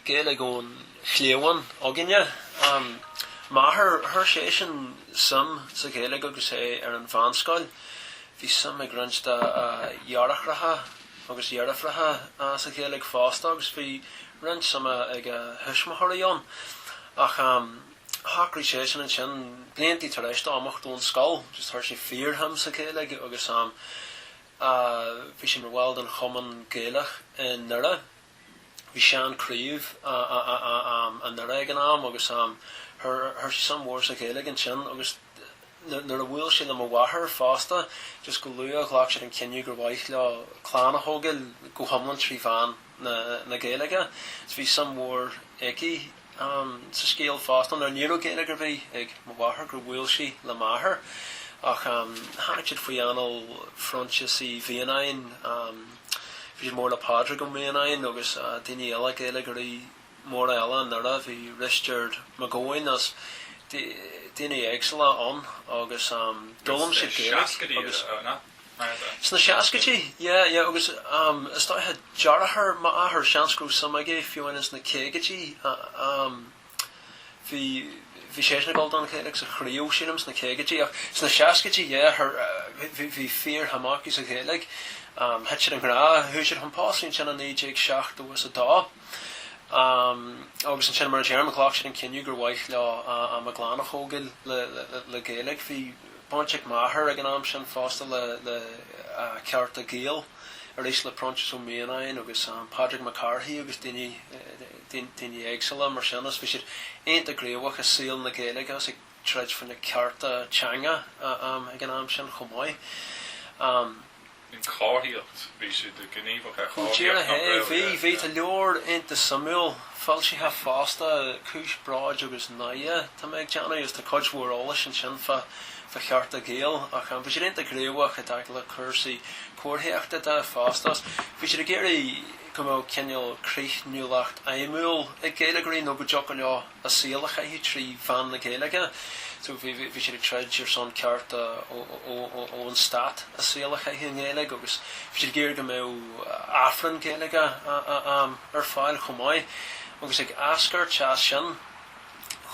Gaeilge ón chliabhán againne. M'athair, chuir seisean suim sa Ghaeilge agus é ar an mheánscoil. Bhí suim ag roinnt dá dheartháireacha agus dheirfiúracha sa Ghaeilge fosta agus bhí roinnt suime ag a thuismitheoirí ann. Ach shocraigh seisean ansin, bliantaí tar éis dó imeacht ón scoil, just chuir sé fíorshuim sa Ghaeilge agus bhí sé mar bhall den Chumann Gaelach i nDoire. bhí sean craobh i nDoire ag an am agus chuir sé suim mhór sa Ghaeilge ansin agus nuair a bhuail sé le mo mháthair fosta just go luath ghlac siad an cinneadh gur mhaith leo clann a thógáil go hiomlán trí mheán na Gaeilge so bhí suim mhór aici sa scéal fosta nuair ní raibh Gaeilge ar bith ag mo mháthair gur bhuail sí le m'athair ach tháinig siad faoi anáil Phroinsias Uí Mhianáin Bhí sé mór le Pádraig Ó Mianáin agus daoine eile, Gaeilgeoirí móra eile i nDoire, bhí Risteard Mac Gabhann is, daoine éagsúla ann agus d'fhoghlaim siad Gaeilge agus. Sna seascaidí, yeah, yeah agus is dócha deartháir m'athar, seans go raibh suim aige fiú ins na caogaidí. Bhí seisean ag gabháil don Ghaeilge sa Chraobh sílim sna caogaidí ach sna seascaidí yeah bhí fíorshuim acu sa Ghaeilge. Thit siad i ngrá, chuaigh siad chun pósta ansin i 1972 agus ansin mar a deirim ghlac siad an cinneadh gur mhaith leo am a gclann a thógáil le Gaeilge. Bhí baint ag m'athair ag an am sin fosta le Cearta Gael arís le Proinsias Ó Mianáin agus Pádraig Mac Cárthaigh agus daoine daoine éagsúla mar sin, is bhí siad iontach gníomhach i saol na Gaeilge agus ag troid faoi na cearta teanga ag an am sin chomh maith. an chomharthaíocht, bhí siad gníomhach ar Go chomharthaíocht díreach na é, bhí, Gaeilge. bhí. Tá leabhar iontach suimiúil foilsithe fosta, Cúis Bróid agus Náire atá mé ag déanamh agus tá cuid mhór eolais ansin fá Chearta Gael ach bhí siad iontach gníomhach i dtaca le cúrsaí comharthaíochta de fosta agus bhí siad ag iarraidh go mbeadh cineál críochnúlacht fheidhmiúil ag Gaeilgeoirí nó go dtiocfadh leo a saol a chaitheamh trí mheán na Gaeilge. So bhí siad ag troid ar son cearta ón stát a saol a chaitheamh i nGaeilge agus bhí siad ag iarraidh go mbeadh Aifreann Gaeilge ar fáil chomh maith. Agus ag eascairt as sin.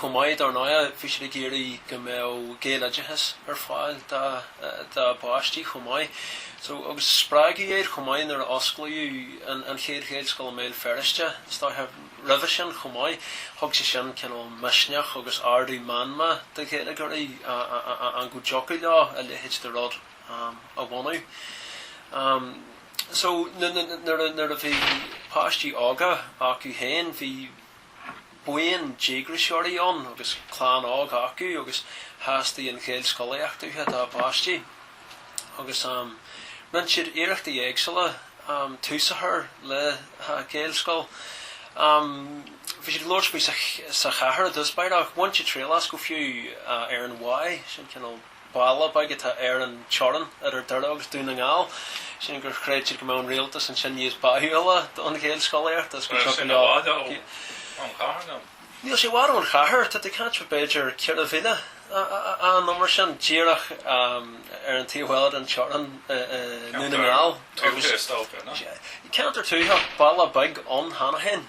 chomh maith. Dar ndóigh, bhí siad ag iarraidh go mbeadh Gaeloideachas ar fáil dá bpáistí chomh maith. So, agus spreagadh iad chomh maith nuair a osclaíodh an chéad Ghaelscoil i mBéal Feirste, is dóiche. Roimhe sin chomh maith, thug sé sin cineál misneach agus ardú meanma do Ghaeilgeoirí ann go dtiocfadh leo a leithéid de rud a bhunú. So, nuair a bhí páistí óga acu féin, bhí. buíon díograiseoirí ann agus clann óg acu agus theastaigh an Ghaelscolaíocht uathu dá bpáistí agus rinne siad iarrachtaí éagsúla tús a chur le Gaelscoil. Bhí siad ag labhairt faoi sa chathair i dtús báire ach bhain siad triail as, go fiú ar an Mháigh, sin cineál, Baile beag atá ar an teorainn idir Doire agus Dún na nGall. Sílim gur chreid siad go mbeadh an rialtas ansin níos báúla don Ghaelscolaíocht agus go dtiocfadh leo Níl sé i bhfad ón chathair nó? Níl sé i bhfad ón chathair. Tá tú ag caint fá b'fhéidir ceithre mhíle nó mar sin, díreach ar an taobh eile den teorainn i nDún na nGall. Ceantar tuaithe is dócha, nach? Ceantar tuaithe, baile beag ann cheana féin.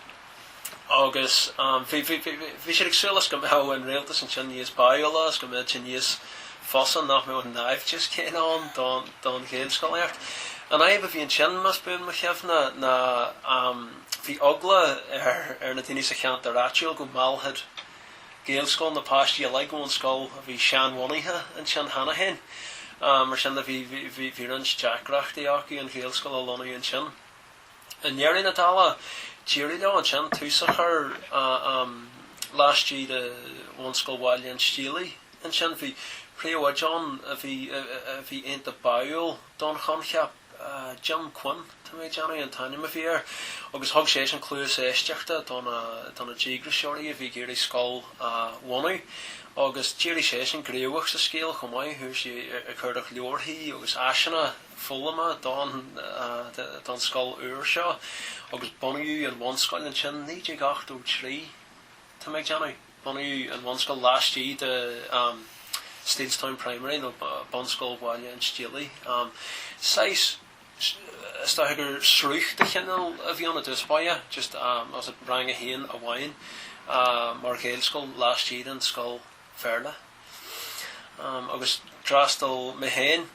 agus bhí siad ag súil is go mbeadh an Rialtas ansin níos báúla is go mbeadh sé níos fusa nach mbeadh an naimhdeas céanna ann don Ghaelscolaíocht. An fhadhb a bhí ansin, más buan mo chuimhne, ná bhí eagla ar na daoine sa cheantar áitiúil go meallfadh Gaelscoil na páistí uilig ón scoil a bhí seanbhunaithe ansin cheana féin. Mar sin de bhí roinnt deacrachtaí acu an Ghaelscoil a lonnú ansin. i ndeireadh na dála, d'éirigh leo ansin tús a chur laistigh de Bhunscoil Bhaile an Stiallaigh. ansin. Bhí príomhoide ann a bhí iontach báúil don choincheap, Jim Quinn, tá mé ag déanamh, an t-ainm a bhí air, agus thug seisean cluas éisteachta do na díograiseoirí a bhí ag iarraidh scoil a bhunú. Agus d'éirigh seisean gníomhach sa scéal chomh maith, thosaigh sé ag cuardach leabharthaí agus áiseanna. foghlama don scoil úr seo agus bunaíodh an bhunscoil ansin 1983 tá mé ag déanamh. Bunaíodh an bhunscoil laistigh de Steelstown Primary nó Bunscoil Bhaile an Stiallaigh. Saghas, is dócha gur sruth de chineál a bhí ann i dtús báire, just rang a haon amháin mar Ghaelscoil laistigh den scoil Bhéarla. Agus d'fhreastal mé féin,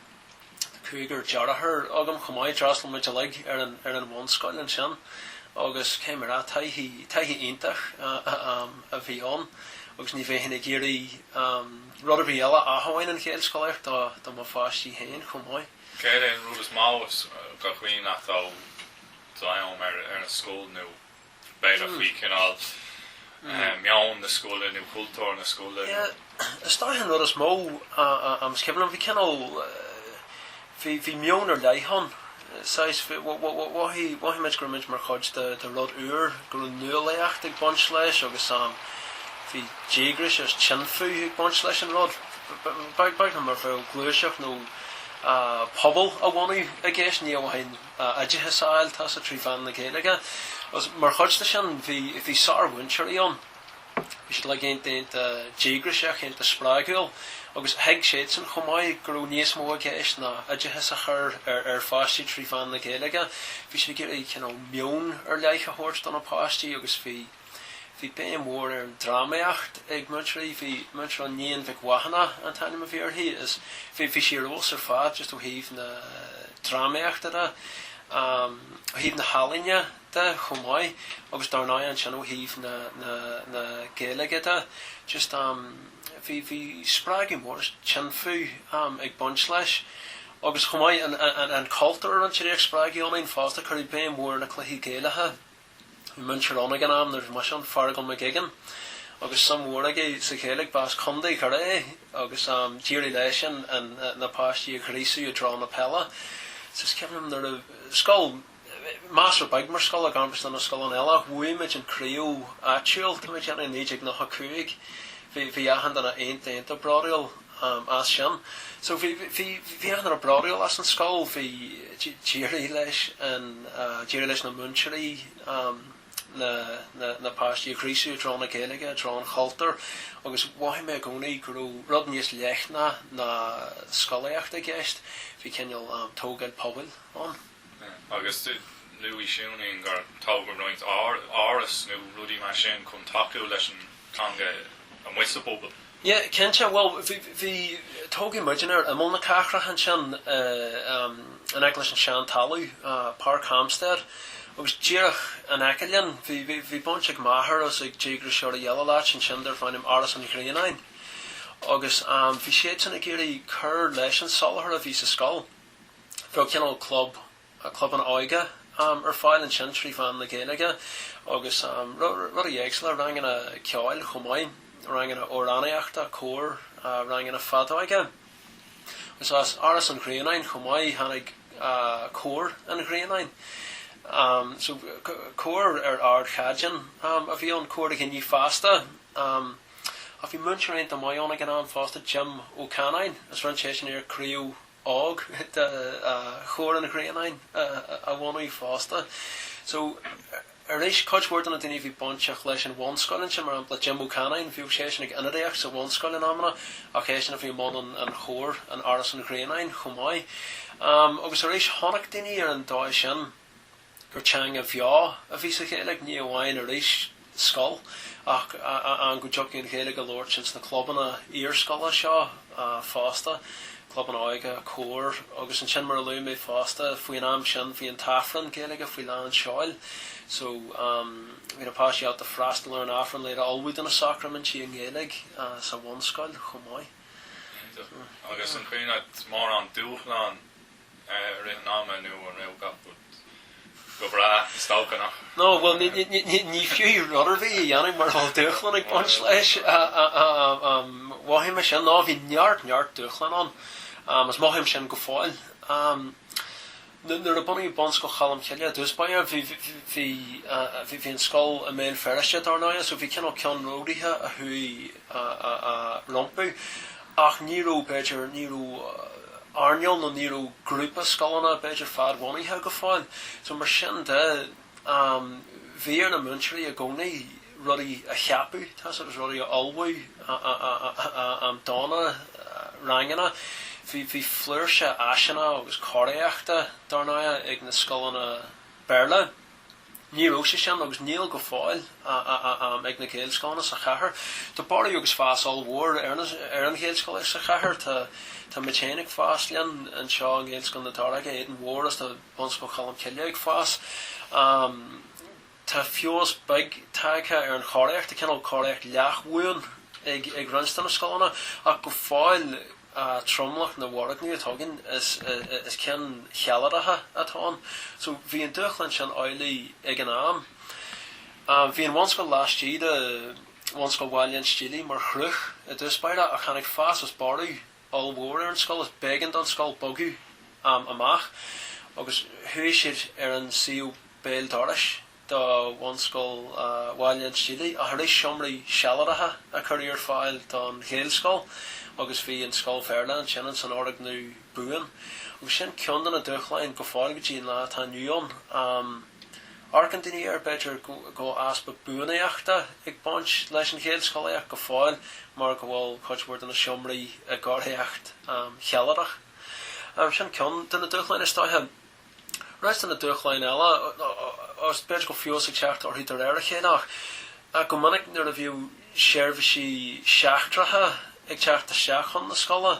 cúigear deartháir agam chomh maith, d'fhreastail muid uilig ar an, ar an bhunscoil ansin agus cé mér a, taithí, taithí iontach a bhí ann agus ní bheinn ag iarraidh rud ar bith eile ach amháin an Ghaelscolaíocht do, do mo pháistí féin chomh maith. Céard é an rud is mó is cuimhin leat de d'am ar, ar an scoil nó. b'fhéidir faoi cineál meon na scoile nó cultúr na scoile nó. Is dócha an rud is mó is cuimhin liom bhí cineál bhí meon ar leith ann is mhothaigh muid go raibh muid mar chuid de rud úr, go raibh nuálaíocht ag baint leis agus bhí díograis agus tinfeadh ag baint leis an rud beag mar bheadh gluaiseacht nó pobal a bhunú i gceist, ní amháin. a oideachas a fháil, tá's agat, trí mheán na Gaeilge. Agus mar chuid de sin, bhí, bhí sármhúinteoirí ann. Bhí siad like iontach, iontach díograiseach, iontach spreagúil. Agus thuig siadsan chomh maith go raibh níos mó i gceist ná oideachas a chur ar, ar pháistí trí mheán na Gaeilge. Bhí siad ag iarraidh, you know, meon ar leith a thabhairt do na páistí agus bhí, Bhí béim mhór ar an drámaíocht ag múinteoirí bhí múinteoir ann Iníon Mhic Mhathúna an t-ainm a bhí uirthi is bhí bhí sí ar fheabhas ar fad just ó thaobh na drámaíochta de um ó thaobh na healaíne de chomh maith agus dar ndóigh ansin ó thaobh na na na Gaeilge de just um bhí bhí spreagadh mór is tinfeadh um ag baint leis agus chomh maith an an an cultúr a roinntear í ag spreagadh ionainn fosta cuireadh béim mhór ar na cluichí Gaelacha Bhí múinteoir ann ag an am nuair a bhí mise ann, Feargal Mac Uiginn, agus suim mhór aige sa Ghaeilge. B'as Condae Dhoire é agus d'éirigh leisean na páistí a ghríosadh i dtreo na peile. Is cuimhin liom nuair a, scoil, measartha beag mar scoil i gcomórtas leis na scoileanna eile ach bhuaigh muid an craobh áitiúil, tá mé ag déanamh, i 1995. Bhí achan duine iontach, iontach bródúil. am as sin. So bhí, bhí, bhí achan rud bródúil as an scoil, bhí, d'éirigh leis an, d'éirigh leis na múinteoirí na, na, na páistí a ghríosú i dtreo na Gaeilge, i dtreo an chultúir agus mhothaigh mé i gcónaí go raibh rud níos leithne ná scolaíocht i gceist, bhí cineál tógáil pobail ann. Agus luaigh tú inné gur tógadh roinnt áras nó rudaí mar sin chun tacú leis an teanga amuigh sa bpobal. Yeah, cinnte, bhuel, bhí, bhí, tógadh muidinne ar imeall na cathrach ansin, in aice leis an Seantalamh, Páirc Hampstead, agus díreach in aice linn, bhí, bhí, bhí baint ag m'athair agus ag díograiseoirí eile le háit ansin darbh ainm Áras an Ghrianáin. Agus bhí siadsan ag iarraidh cur leis an soláthar a bhí sa scoil. Bheadh cineál club, clubanna óige ar fáil ansin trí mheán na Gaeilge agus rudaí éagsúla, ranganna ceoil chomh maith, ranganna amhránaíochta, cór, ranganna feadóige. Agus as Áras an Ghrianáin chomh maith tháinig Cór an Ghrianáin. So cór ar ardchaighdeán a bhí ann, cór daoine fásta. Ach bhí múinteoir iontach maith ann ag an am fosta, Jim Ó Canainn, is rinne seisean iar-Chraobh. óg de Chór an Ghrianáin a bhunú fosta. So, arís, cuid mhór de na daoine a bhí bainteach leis an bhunscoil ansin, mar shampla, Jim Ó Canainn, bhíodh seisean ag ionadaíocht sa bhunscoil in amanna ach eisean a bhí i mbun an chóir in Áras an Ghrianáin chomh maith. Agus arís, chonaic daoine ar an dóigh sin, gur teanga bheo a bhí sa Ghaeilge, ní amháin arís scoil ach ann go dtiocfadh an Ghaeilge a labhairt ins na clubanna iarscoile seo fosta, clubanna óige, cóir agus ansin mar a luaigh mé fosta faoin am sin bhí an tAifreann Gaeilge faoi lán seoil so bhí na páistí ábalta freastal ar an Aifreann le iad a ullmhú do na sacraimintí i nGaeilge sa bhunscoil chomh maith. Cinnte. Agus an cuimhin leat mórán dúshlán. I rith an ama nó an raibh gach rud go breá sa stailceanna? No, bhuel, ní fiú rud ar bith a dhéanamh mura bhfuil dúshláin ag baint leis. Mhothaigh mé sin, no, bhí neart, neart dúshláin ann, agus mothaím sin go fóill. Nuair a bunaíodh Bunscoil Cholm Cille i dtús báire, bhí an scoil i mBéal Feirste, dar ndóigh, so bhí cineál ceannródaithe a chuaigh rompu. Ach ní raibh, b'fhéidir, ní raibh earnáil nó ní raibh grúpa scoileanna, b'fhéidir, fad-bhunaithe go fóill. So mar sin de, bhí ar na múinteoirí i gcónaí rudaí a cheapadh, tá's agat, rudaí a ullmhú, am, do na ranganna. Bhí, bhí flúirse áiseanna agus cóiríochta, dar ndóigh, ag na scoileanna Béarla. Ní raibh sé sin, agus níl go fóill, ag na Gaelscoileanna sa chathair. Tá borradh agus fás ollmhór ar an Ghaelscolaíocht sa chathair. Tá muid féin ag fás linn anseo i nGaelscoil na Daróige, Éadain Mhóir, is tá Bunscoil Cholm Cille ag fás. Tá feabhas beag tagtha ar an chóiríocht, tá cineál cóiríocht leath-bhuan ag roinnt de na scoileanna, ach go fóill, a tromlach na bhfoirgneamh atá againn is cinn shealadacha atá ann. So bhí an dúshlán sin amhlaidh ag an am. Bhí an bhunscoil laistigh de Bhunscoil Bhaile an Stíligh mar shruth i dtús báire ach tháinig fás is borradh ollmhór ar an scoil is b'éigean don scoil bogadh amach agus chuaigh siad ar an suíomh béal dorais do Bhunscoil Bhaile an Stíligh, ach arís seomraí sealadacha a cuireadh ar fáil don Ghaelscoil agus bhí an scoil Bhéarla ansin ins an fhoirgneamh buan. Agus sin ceann de na dúshláin go fóill go dtí an lá atá inniu ann. Amharcann daoine air, b'fhéidir, go bhfuil easpa buanaíochta ag baint leis an Ghaelscolaíocht go fóill mar go bhfuil cuid mhór de na seomraí i gcóiríocht shealadach. Sin ceann de na dúshláin is dóiche. Roinnt de na dúshláin eile, agus b'fhéidir go bhfuil feabhas ag teacht orthu de réir a chéile, ach go minic nuair a bhíodh seirbhísí seachtracha ag teacht isteach chun na scoile,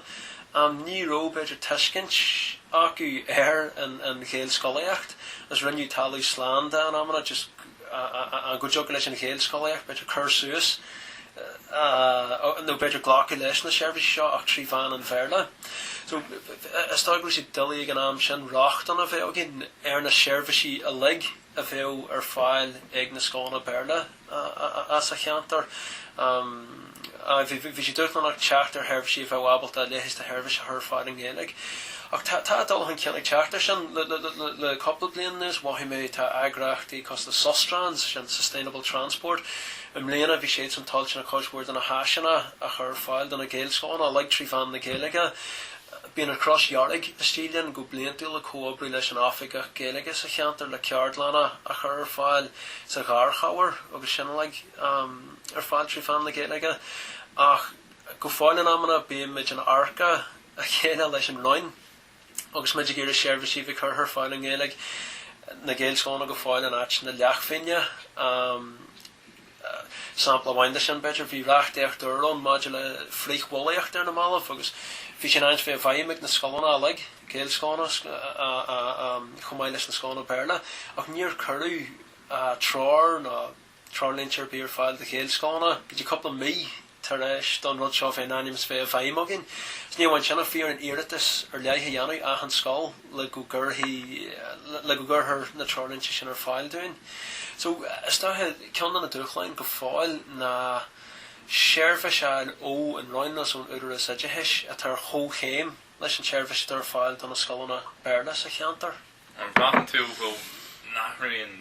ní raibh, b'fhéidir, tuiscint acu ar an Ghaelscolaíocht agus rinneadh talamh slán de in amanna, just, ann go dtiocfadh leis an Ghaelscolaíocht, b'fhéidir, cur suas, nó b'fhéidir glacadh leis na seirbhísí seo ach trí mheán an Bhéarla. So, is dóigh go raibh sé doiligh ag an am sin rochtain a bheith againn ar na seirbhísí uilig a bheadh ar fáil ag na scoileanna Béarla sa cheantar. Bhí sé dúshlánach teacht ar sheirbhísí a bheadh ábalta leithéid de sheirbhís a chur ar fáil i nGaeilge. Ach tá dul chun cinn ag teacht ar sin. Le cúpla bliain anuas mhothaigh mé tá eagraíochtaí cosúil le Sustrans, sin Sustainable Transport. I mbliana bhí siadsan toilteanach cuid mhór de na háiseanna a chur ar fáil do na Gaelscoileanna uilig trí mheán na Gaeilge. Bíonn an Chros Dhearg istigh linn go bliantúil ag comhoibriú leis an Oifigeach Gaeilge sa cheantar le ceardlanna a chur ar fáil sa gharchabhair agus sin uilig. ar fáil trí mheán na Gaeilge, ach go fóill in amanna bímid in adharca a chéile leis an Roinn agus muid ag iarraidh seirbhísí a bheith curtha ar fáil i nGaeilge, na Gaelscoileanna go fóill in áit na leathphingne. Sampla amháin de sin, b'fhéidir, bhí reachtaíocht úr ann maidir le frith-bhulaíocht ar na mallaibh agus bhí sé in ainm bheith i bhfeidhm ag na scoileanna uilig, Gaelscoileanna chomh maith leis na scoileanna Béarla, ach níor cuireadh treoir ná. treoirlínte ar bith ar fáil do Ghaelscoileanna go dtí cúpla mí tar éis don rud seo bheith in ainm is bheith i bhfeidhm againn. Is ní amháin sin ach bhí orainn iarratas ar leith a dhéanamh achan scoil le go gcuirfidh, le go gcuirthear na treoirlínte sin ar fáil dúinn. So, is dóiche, ceann de na dúshláin go fóill ná seirbhís a fháil ó an Roinn agus ón Údaras Oideachais atá ar chomhchéim leis an tseirbhís atá ar fáil do na scoileanna Béarla sa cheantar. An mbraitheann tú go n-athraíonn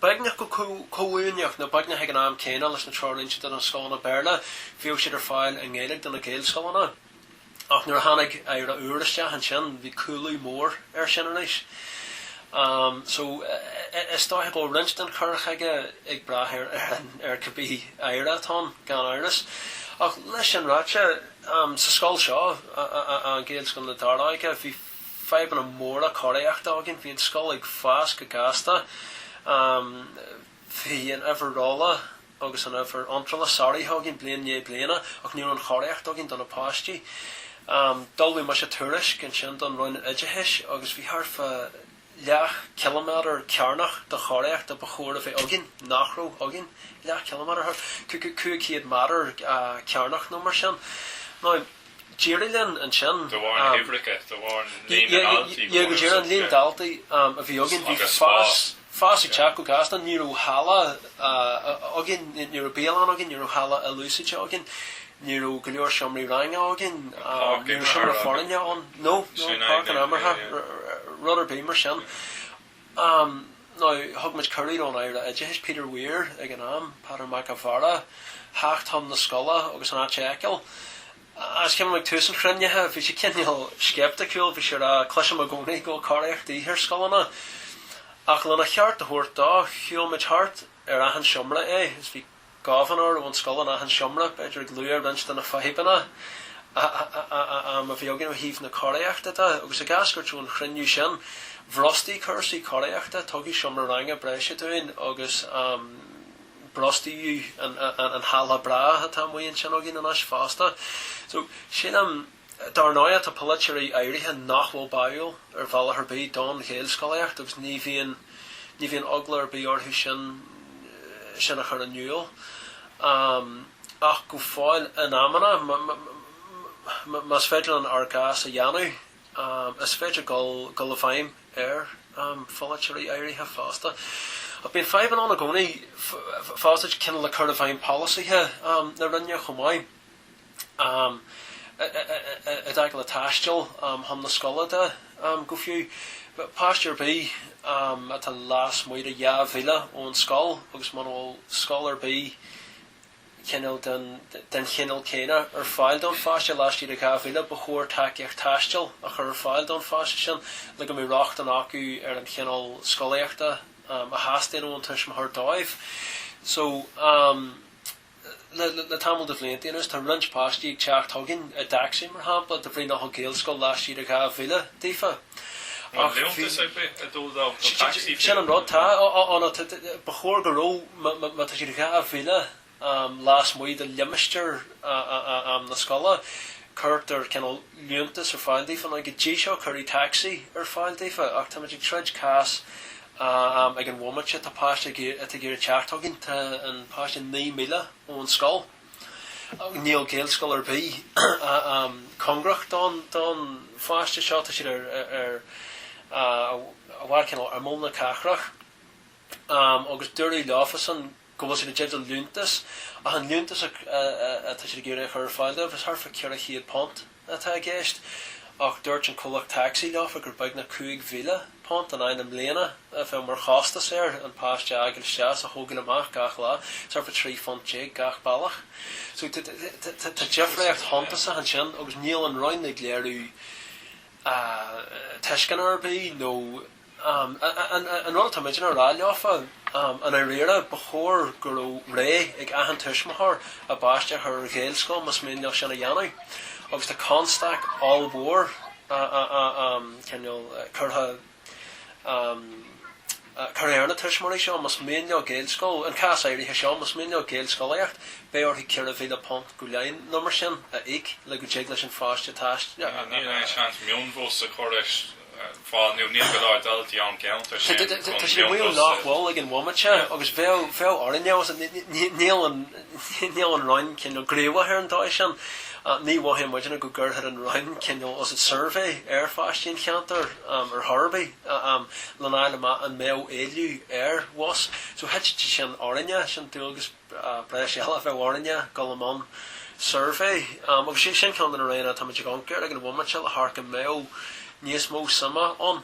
Beagnach go comhuaineach, nó beagnach ag an am céanna leis na treoirlínte do na scoileanna Béarla, bhíodh siad ar fáil i nGaeilge do na Gaelscoileanna. Ach nuair a tháinig aire úr isteach ansin, bhí cúlú mór ar sin arís. So, is dóiche go bhfuil roinnt den chur chuige ag brath ar ar cibé aire atá ann, gan amhras. Ach leis sin ráite, sa scoil seo, Gaelscoil na Daróige, bhí. fadhbanna móra cóiríochta againn. Bhí an scoil ag fás go gasta. Bhí an uimhir rolla agus an uimhir iontrála sáraithe againn bliain i ndiaidh bliana ach ní raibh an chóiríocht againn do na páistí. D'ullmhaigh mise tuairisc ansin don Roinn Oideachais agus bhí thart fá leath ciliméadar cearnach de chóiríocht ba chóir a bheith againn nach raibh againn, leath ciliméadar, cúig chéad meadar cearnach nó mar sin. Now, d'éirigh linn ansin. Do bharr na huimhreacha, do bharr líon na ndaltaí, yeah, go díreach, an líon daltaí a bhí againn, bhí fás, fás ag teacht go gasta, ní raibh halla againn, ní raibh bialann againn, ní raibh halla ilúsáidte againn. Ní raibh go leor seomraí ranga againn, ní raibh seomra foirne againn, no, no, páirc an imeartha, rud ar bith mar sin. Now, thug muid cuireadh do'n Aire Oideachais, Peter Weir, ag an am, Peadar Mac an Mhaoir, theacht chun na scoile agus an áit a fheiceáil. Agus is cuimhin liom, ag tús an chruinnithe, bhí sé cineál sceipticiúil, bhí sé a' rá, cloisim i gcónaí go bhfuil cóiríocht de dhíth ar scoileanna. Ach lena cheart a thabhairt dó, shiúil muid thart ar achan seomra é, is bhí gobharnóir ón scoil in achan seomra, b'fhéidir ag lua roinnt de na fadhbanna a bhí againn ó thaobh na cóiríochta de. Agus ag eascairt ón chruinniú sin, bhrostaigh cúrsaí cóiríochta, tugadh seomra ranga breise dúinn agus brostaíodh an halla breá atá amuigh ansin againn anois fosta. So, sin. Dar ndóigh tá polaiteoirí áirithe nach bhfuil báúil ar bhealach ar bith don Ghaelscolaíocht agus ní bhíonn, ní bhíonn eagla ar bith orthu sin, sin a chur in iúl. Ach go fóill, in amanna, más féidir linn ár gcás a dhéanamh, is féidir dul, dul i bhfeidhm ar pholaiteoirí áirithe fosta. Ach bíonn fadhbanna ann i gcónaí fosta, cineál le cur i bhfeidhm polasaithe na Roinne chomh maith. i dtaca le taisteal chun na scoile de go fiú. Páiste ar bith atá lasmuigh de dhá mhíle ón scoil agus muna bhfuil scoil ar bith cineál den chineál céanna ar fáil don pháiste laistigh de dhá mhíle ba chóir tacaíocht taistil a chur ar fáil don pháiste sin le go mbeidh rochtain acu ar an chineál scolaíochta a theastaíonn ón tuismitheoir dóibh. So. Le tamall de bhlianta anuas tá roinnt páistí ag teacht chugainn i dtacsaí, mar shampla, de bhrí nach bhfuil Gaelscoil laistigh de dhá mhíle daofa. Bhfuil liúntas ar bith ag dul dóibh nó tacsaí féin? Sin an rud, tá. Á no ba chóir go raibh, má tá siad dhá mhíle lasmuigh de limistéar na scoile, cuirtear cineál liúntas ar fáil daofa. Nó go dtí seo cuireadh tacsaí ar fáil daofa ach táimid ag troid cás ag an bhomaite tá páiste atá ag iarraidh teacht chugainn. Tá an páiste naoi míle ón scoil. Níl Gaelscoil ar bith cóngarach don pháiste seo. Tá siad ar, amach ar cineál imeall na cathrach. Agus dúradh leofasan. go bhfuil siad i dteideal liúntas, ach an liúntas atá siad ag iarraidh a chur ar fáil dóibh, is thart fá £400 atá i gceist, ach dúirt an comhlacht tacsaí leofa gur beagnach £5,000 in aghaidh na mbliana a bheadh mar chostas air an páiste a fhágáil isteach is a thógáil amach gach lá, is thart fá trí phunt déag gach bealach. So tá difréacht shuntasach ansin agus níl an Roinn ag léiriú tuisceana ar bith nó. An rud atá muidinne ag rá leofa, i ndáiríre, ba chóir go raibh rogha ag achan tuismitheoir a bpáiste a chur ar Ghaelscoil más mian leo sin a dhéanamh. Agus tá constaic ollmhór cineál curtha ar na tuismitheoirí seo más mian leo Gaelscoil, an cás áirithe seo, más mian leo Gaelscolaíocht, beidh orthu ceithre mhíle punt go leith, nó mar sin, a íoc le go dtig leis an pháiste taisteal. Níl aon seans mionbhus a chur ar fáil nó níl go leor daltaí ón cheantar sin? Tá siad ag maíomh nach bhfuil ag an bhomaite agus bheadh bheadh orainne fós. Níl an níl an Roinn cineál gníomhach ar an dóigh sin. Ní mhothaíonn muidinne go gcuirfeadh an Roinn cineál fós suirbhé ar pháistí an cheantair ar chor ar bith lena fháil amach an mbeadh éileamh ar bhus. So thit sé sin orainne, sin dualgas breise a bheadh orainne dul i mbun suirbhé agus sin ceann de na rudaí atáimid ag amharc air ag an bhomaite le hamharc an mbeadh níos mó suime ann.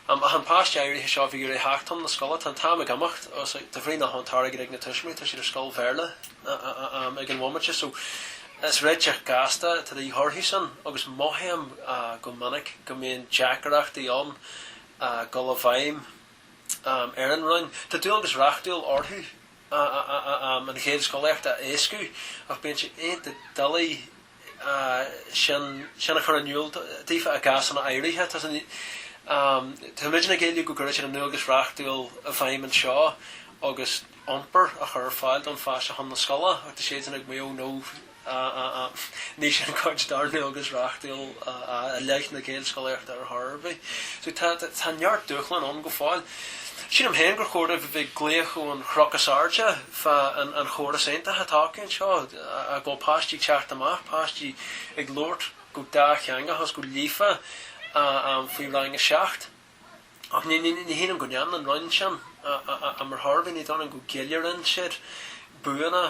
Ach an páiste áirithe seo a bhí ag iarraidh theacht chun na scoile, tá an t-am ag imeacht agus de bhrí nach bhfuil an t-airgead ag na tuismitheoirí tá siad ar scoil Bhéarla ag an bhomaite so is réiteach gasta atá de dhíth orthusan agus mothaím go minic go mbíonn deacaireachtaí ann dul i bhfeidhm ar an Roinn. Tá dualgas reachtúil orthu an Ghaelscolaíocht a éascú ach bíonn sé iontach doiligh sin a chur in iúl daofa i gcásanna áirithe. Táimidne ag éileamh go gcuirfidh siad a ndualgas reachtúil i bhfeidhm anseo agus iompar a chur ar fáil don pháiste chun na scoile ach tá siadsan ag maíomh 'no ní sin cuid dár ndualgas reachtúil i leith na Gaelscolaíochta ar chor ar bith. So tá neart dúshlán ann go fóill. Sílim féin gur chóir dóibh a bheith ag glaoch ón chnoc is airde fá an chóras iontach atá acu anseo, a gcuid páistí teacht amach, páistí ag labhairt go dátheangach agus go líofa faoi rang a seacht. Ach ní shílim go ndéanann an Roinn sin am ar chor ar bith. Ní dóigh liom go gceiliúrann siad buanna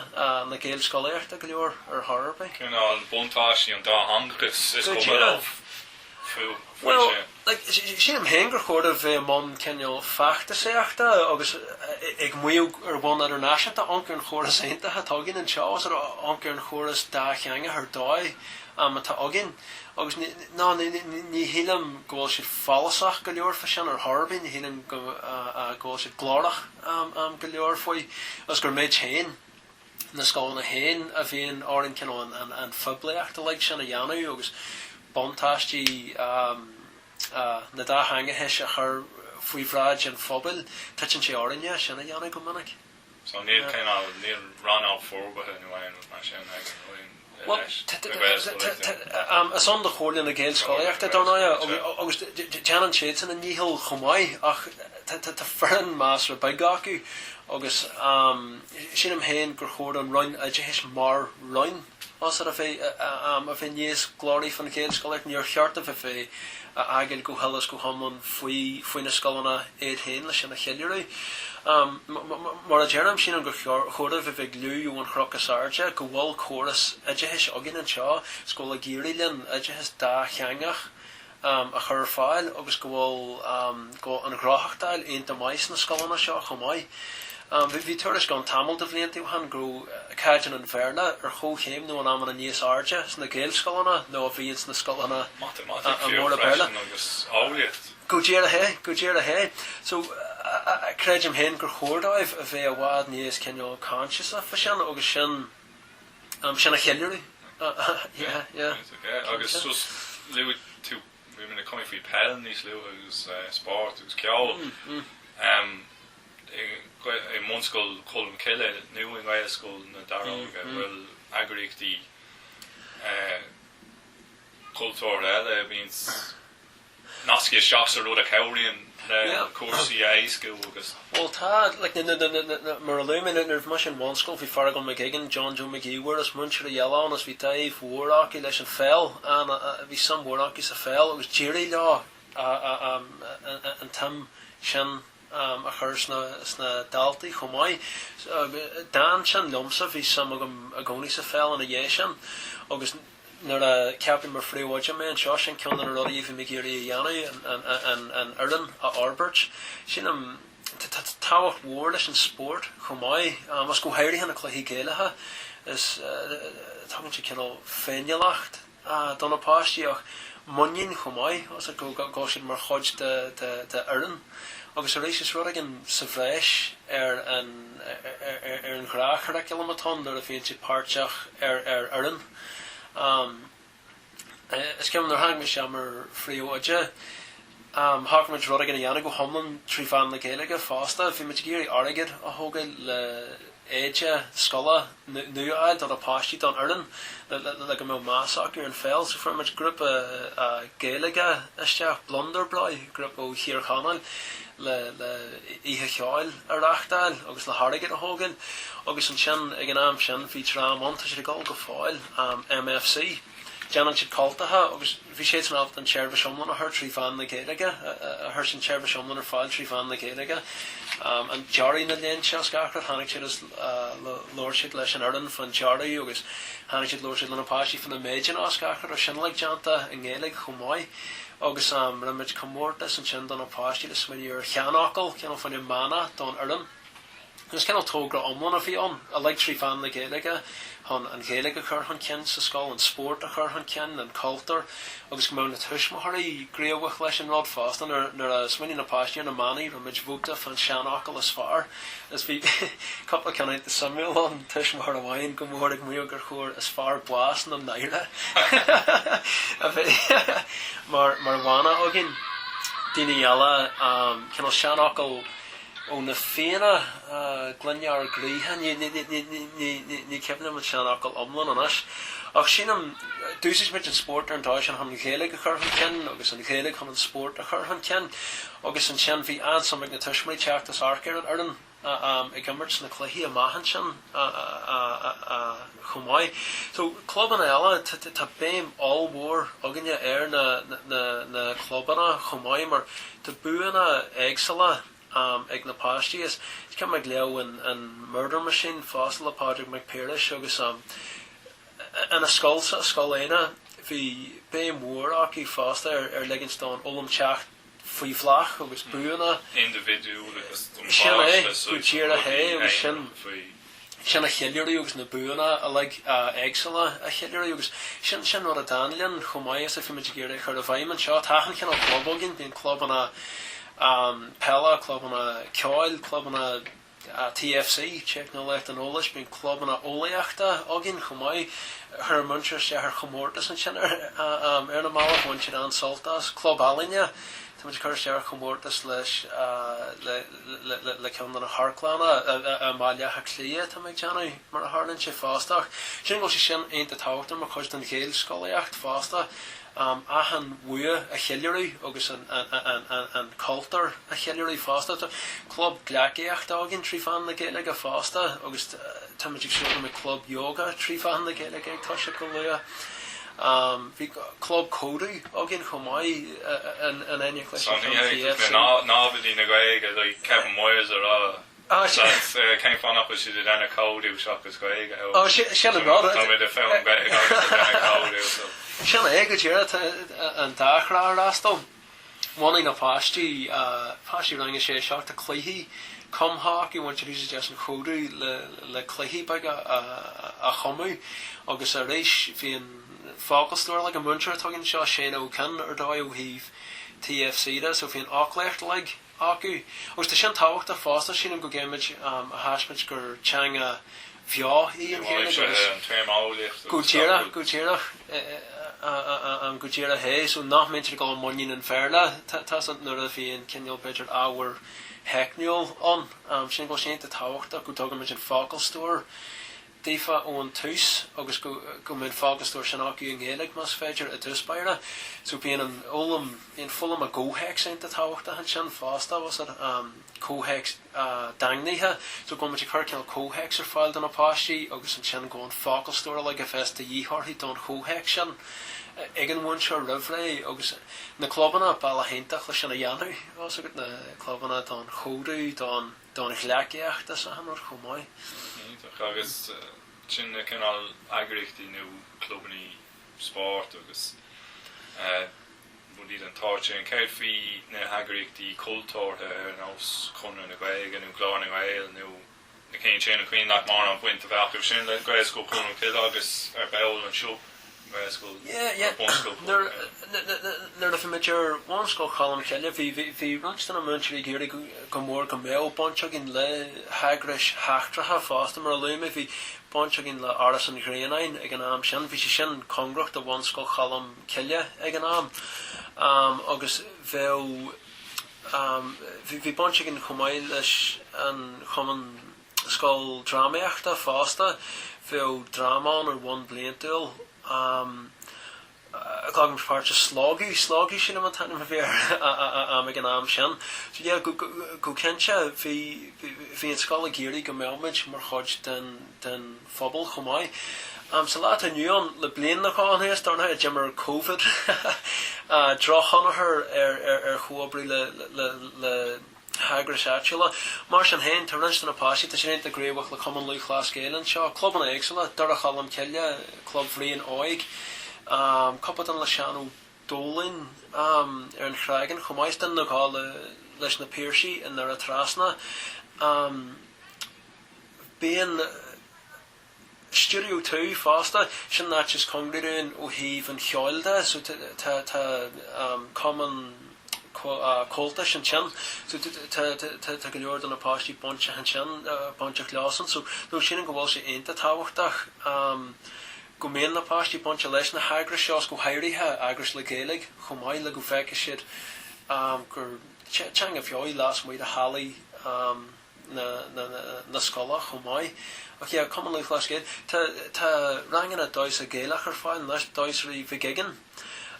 na Gaelscolaíochta go leor ar chor ar bith. Cineál buntáistí an dátheangachais is cuma leo faoi sin. Bhuel, sílim féin gur chóir a bheith i mbun cineál feachtasaíochta agus ag maíomh ar bhonn idirnáisiúnta amharc ar an chóras iontach atá againn anseo, sort of amharc ar an chóras dátheangach ar dóigh atá againn. Agus ní shílim go bhfuil siad follasach go leor faoi sin ar chor ar bith, ní shílim go bhfuil siad glórach go leor faoi agus gur muid féin, na scoileanna féin a bhíonn orainn cineál an phoiblíocht uilig sin a dhéanamh agus buntáistí an dátheangachais a chur faoi bhráid an phobail, titeann sé orainne é sin a dhéanamh go minic. So níl cineál, níl rannóg forbartha nó aon rud mar sin ag an Roinn leis na Gaelscolaíochta? Bhuel is ann do Chomhairle na Gaelscolaíochta, dar ndóighe, agus déanann siadsan a ndícheall chomh maith, ach tá foireann measartha beag acu agus sílim féin gur chóir don Roinn Oideachais mar Roinn, Más ar feadh am a bheith níos glóraí faoin Ghaelscolaíocht níor cheart a bheith á fhágáil go huile is go hiomlán faoi na scoileanna iad féin le sin a cheiliúradh. Mar a deirim, sílim gur chóir a bheith ag liú ón chnoc is airde go bhfuil córas oideachais againn anseo is go bhfuil ag éirí linn oideachas dátheangach um, a chur ar fáil agus go bhfuil um, go bhfuil an ghnothachtáil ionta maith sna scoileanna seo chomh maith. Um, bhí, bhí tuairisc ann tamall de bhlianta ó shin go raibh uh, caighdeán an Bhéarla ar chomhchéim nó in amanna níos airde sna Gaelscoileanna ná a bhí ins na scoileanna uh, lán-Bhéarla. freisin agus ábhailleacht. Go díreach é, go díreach é. So, uh, uh, creidim féin gur chóir dóibh a bheith i bhfad níos cineál coinsiasach faoi sin agus sin Sin a cheiliúradh. Yeah, yeah, yeah, ok, yeah. Agus just luaigh tú, bhí mé ag cuimhneamh faoi peil níos luaithe agus spórt agus ceol. I mbunscoil Cholm Cille nó i nGaelscoil na Daróige an bhfuil eagraíochtaí cultúrtha eile, bíonns nasctha isteach sa rud a chabhraíonn le cúrsaí a éascú agus. Bhuel tá, like na, na, na, na, mar a luaigh mé nuair a bhí mise i mbunscoil bhí Fergal McGuigan, John Joe Mag Uidhir, is múinteoirí eile ann is bhí dáimh mhór acu leis an pheil, an, bhí suim mhór acu sa pheil agus d'éirigh leo an, an, an, an, an tsuim sin, am a chur sna daltaí chomh maith. D'fhan sin liomsa, bhí suim agam i gcónaí sa pheil ina dhiaidh sin agus nuair a ceapadh mar phríomhoide mé anseo, sin ceann de na rudaí a bhí mé ag iarraidh a dhéanamh, an fhoireann a fhorbairt. Sílim, tá tábhacht mhór leis an spórt chomh maith agus go háirithe na cluichí Gaelacha, is tugann sé cineál féiniúlacht do na páistí ach muinín chomh maith as acu go bhfuil siad mar chuid de fhoireann agus arís is rud éigin sa bhreis ar an ghnáthchuraclam atá ann nuair a bhíonn siad páirteach ar fhoireann. Is cuimhin liom nuair a tháinig mise mar phríomhoide, Shocraigh muid rud éigin a dhéanamh go hiomlán trí mheán na Gaeilge fosta. Bhí muid ag iarraidh airgead a thógáil le éide scoile nua a fháil do na páistí, don fhoireann le go mbeadh meas acu ar an pheil. So fuair muid grúpa Gaeilge isteach, Blunderbrau, grúpa ó Thír Chonaill le oíche cheoil a reachtáil agus le hairgead a thógáil. Agus ansin ag an am sin bhí dream ann, tá siad ag dul go fóill, MFC. Déanann siad cultacha agus. Bhí siadsan in ann an tseirbhís iomlán a chur trí mheán na Gaeilge, a chur an tseirbhís iomlán ar fáil trí mheán na Gaeilge. An dearadh, na léinte is gach rud. Tháinig siad is labhair siad leis an fhoireann fán dearadh agus tháinig siad labhair siad le na páistí fá na méideanna is gach rud. Bhí sin uilig déanta i nGaeilge chomh maith. Agus rinne muid comórtas ansin do na páistí le smaoineamh ar sheanfhocal, cineál fán mhana don fhoireann. Is cineál togra iomlán a bhí ann uilig trí mheán na Gaeilge, chun an Ghaeilge a chur chun cinn sa scoil, an spórt a chur chun cinn, an cultúr, agus go mbeadh na tuismitheoirí gníomhach leis an rud fosta. Nuair a smaoinigh na páistí ar na manaí, rinne muid vóta fán seanfhocal is fearr, is bhí cúpla ceann suimiúil ann, tuismitheoir amháin go mór ag maíomh gur chóir 'is fearr bás na náire' a bheith mar mhana againn, daoine eile cineál seanfhocal, ó na Fianna, gloine ár gcroíthe, ní cuimhin liom an seanfhocal iomlán anois ach sin, em, d'úsáid muid an spórt ar an dóigh sin chun an Ghaeilge a chur chun cinn agus an Ghaeilge chun an spórt a chur chun cinn agus ansin bhí an-suim ag na tuismitheoirí teacht is amharc ar an fhoireann ag imirt sna cluichí amach ansin. chomh maith. So clubanna eile, tá béim ollmhór againne ar na clubanna chomh maith mar tá buanna éagsúla ag na páistí is cuimhin liom ag léamh an Murder Machine fosta le Pádraig Mac Piarais agus i Scoil Éanna, bhí béim mhór acu fosta ar ligint don fhoghlaim teacht. faoi bhláth agus buanna indibhidiúil agus Sin é go díreach é, agus sin a cheiliúradh agus na buanna uilig éagsúla a cheiliúradh agus sin, sin rud a d'fhan linn chomh maith is a bhí muid ag iarraidh a chur i bhfeidhm anseo. Tá achan chineál club againn, bíonn clubanna peile, clubanna ceoil, clubanna. TFC, Teicneolaíocht an Eolais, bíonn clubanna eolaíochta againn chomh maith. Chuir muid isteach ar chomórtas ansin ar na mallaibh, bhain siad an-sult as. Club Ealaíne, tá muid ag cur isteach ar chomórtas leis le ceann de na hamharclanna i mBaile Átha Cliath tá mé ag déanamh, mar a tharlaíonn sé fosta. Ach sin, go, sé sin, iontach tábhachtach mar chuid den Ghaelscolaíocht fosta. achan bhua a cheiliúradh agus an cultúr a cheiliúradh fosta. Tá club gleacaíochta againn trí mheán na Gaeilge fosta agus táimid ag súil go mbeidh club yoga trí mheán na Gaeilge ag toiseacht go luath. Bhí club códú againn chomh maith in éineacht leis an CFC. Tá gné mhór ag Ábaltaí na Gaeilge le Kevin Myers a rá. Agus cén fáth nach bhfuil siad ag déanamh códú as Gaeilge ó tá muid ag foghlaim Gaeilge agus ag déanamh códú. Sin é go díreach tá an dá thrá á fhreastal. Bhunaigh na páistí, páistí rang a sé, seacht cluichí cumtha acu, bhain siad úsáid as an chódú le cluichí beaga a chumadh agus arís bhí an focalstór uilig ag an múinteoir atá againn anseo, tá siad ar dóigh ó thaobh TFC de so bhí an fhoclaíocht uilig. acu. Agus tá sin tábhachtach fosta, sílim, go gcaithfimid a thaispeáint gur teanga bheo í an Ghaeilge agus go díreach, go díreach, go díreach é. So nach mbímid ag dul i muinín an Bhéarla, tá's agat, nuair a bhíonn cineál, b'fhéidir, ábhar teicniúil ann. Sílim go bhfuil sé iontach tábhachtach go dtugaimid an focalstór daofa ón tús agus go, go mbeadh an focalstór sin acu i nGaeilg más féidir i dtús báire so bíonn an fhoghlaim, bíonn foghlaim i gcomhthéacs iontach tábhachtach ansin fosta, fhios agat, comhthéacs daingnithe so go bhfuil muid ag cur cineál comhthéacs ar fáil do na páistí agus ansin go bhfuil an focalstór uilig a bheas de dhíth orthu don chomhthéacs sin ag an mhúinteoir roimh ré agus na clubanna, bealach iontach le sin a dhéanamh, fhios agat, na clubanna don chódú, don. don ghleacaíocht san ionad chomh maith. Iontach. Agus sin na cineál eagraíochtaí nó clubannaí spóirt agus rudaí den tsórt sin. Céard faoi na heagraíochtaí cultúrtha ar nós Conradh na Gaeilge nó Glór na nGael nó na cinn sin? An cuimhin leat mórán baint a bheith acu sin le Gaelscoil Cholm Cille agus ar ball anseo? Gaelscoil Yeah yeah or Bunscoil Cholm Cille. nuair a bhí muid ar Bhunscoil Cholm Cille bhí bhí roinnt de na múinteoirí ag iarraidh go mór go mbeadh baint againn le heagrais sheachtracha fosta mar a luaigh mé bhí baint againn le Áras an Ghrianáin ag an am sin bhí sé sin cóngarach do Bhunscoil Cholm Cille ag an am agus bheadh bhí baint againn chomh maith leis an Chumann Scoildrámaíochta fosta. Bheadh dráma ann ar bhonn bliantúil. Glacadh páirt i Slógadh, Slógadh, sílim an t-ainm a bhí air ag an am sin. So yeah, go cinnte bhí, bhí an scoil ag iarraidh go mbeadh muid mar chuid den, den phobal chomh maith. Sa lá atá inniu ann, le bliain nó dhó anuas dar ndóigh, d'imir Covid drochthionchar ar, ar, ar chomhoibriú le, le, le, le, heagrais áitiúla. Mar sin féin, tá roinnt de na páistí, tá sé déanta i gcraobhacht le Cumann Lúthchleas Gael anseo, clubanna éagsúla, Doire Cholm Cille, Club Bhriain Óig, cúpla duine le Seán Ó Dólainn ar an Chreagán chomh maith, is duine nó dhó leis na Piarsaigh i nDoire Trasna. Bíonn. Stiúideo 2 fosta, sin an áit is cóngaraí dúinn ó thaobh an cheoil de so tá cumann comhaltais ansin so tá go leor de na páistí bainteach ansin, bainteach leosan so no sílim go bhfuil sé iontach tábhachtach go mbíonn na páistí bainte leis na heagrais seo 's go háirithe eagrais le Gaeilge chomh maith le go bhfeicfidh siad gur teanga bheo í lasmuigh de bhallaí na scoile chomh maith. Ach yeah, Cumann Lúthchleas Gael. Tá, tá ranganna damhsa Ghaelaigh ar fáil anois, damhsóirí Mhic Uiginn,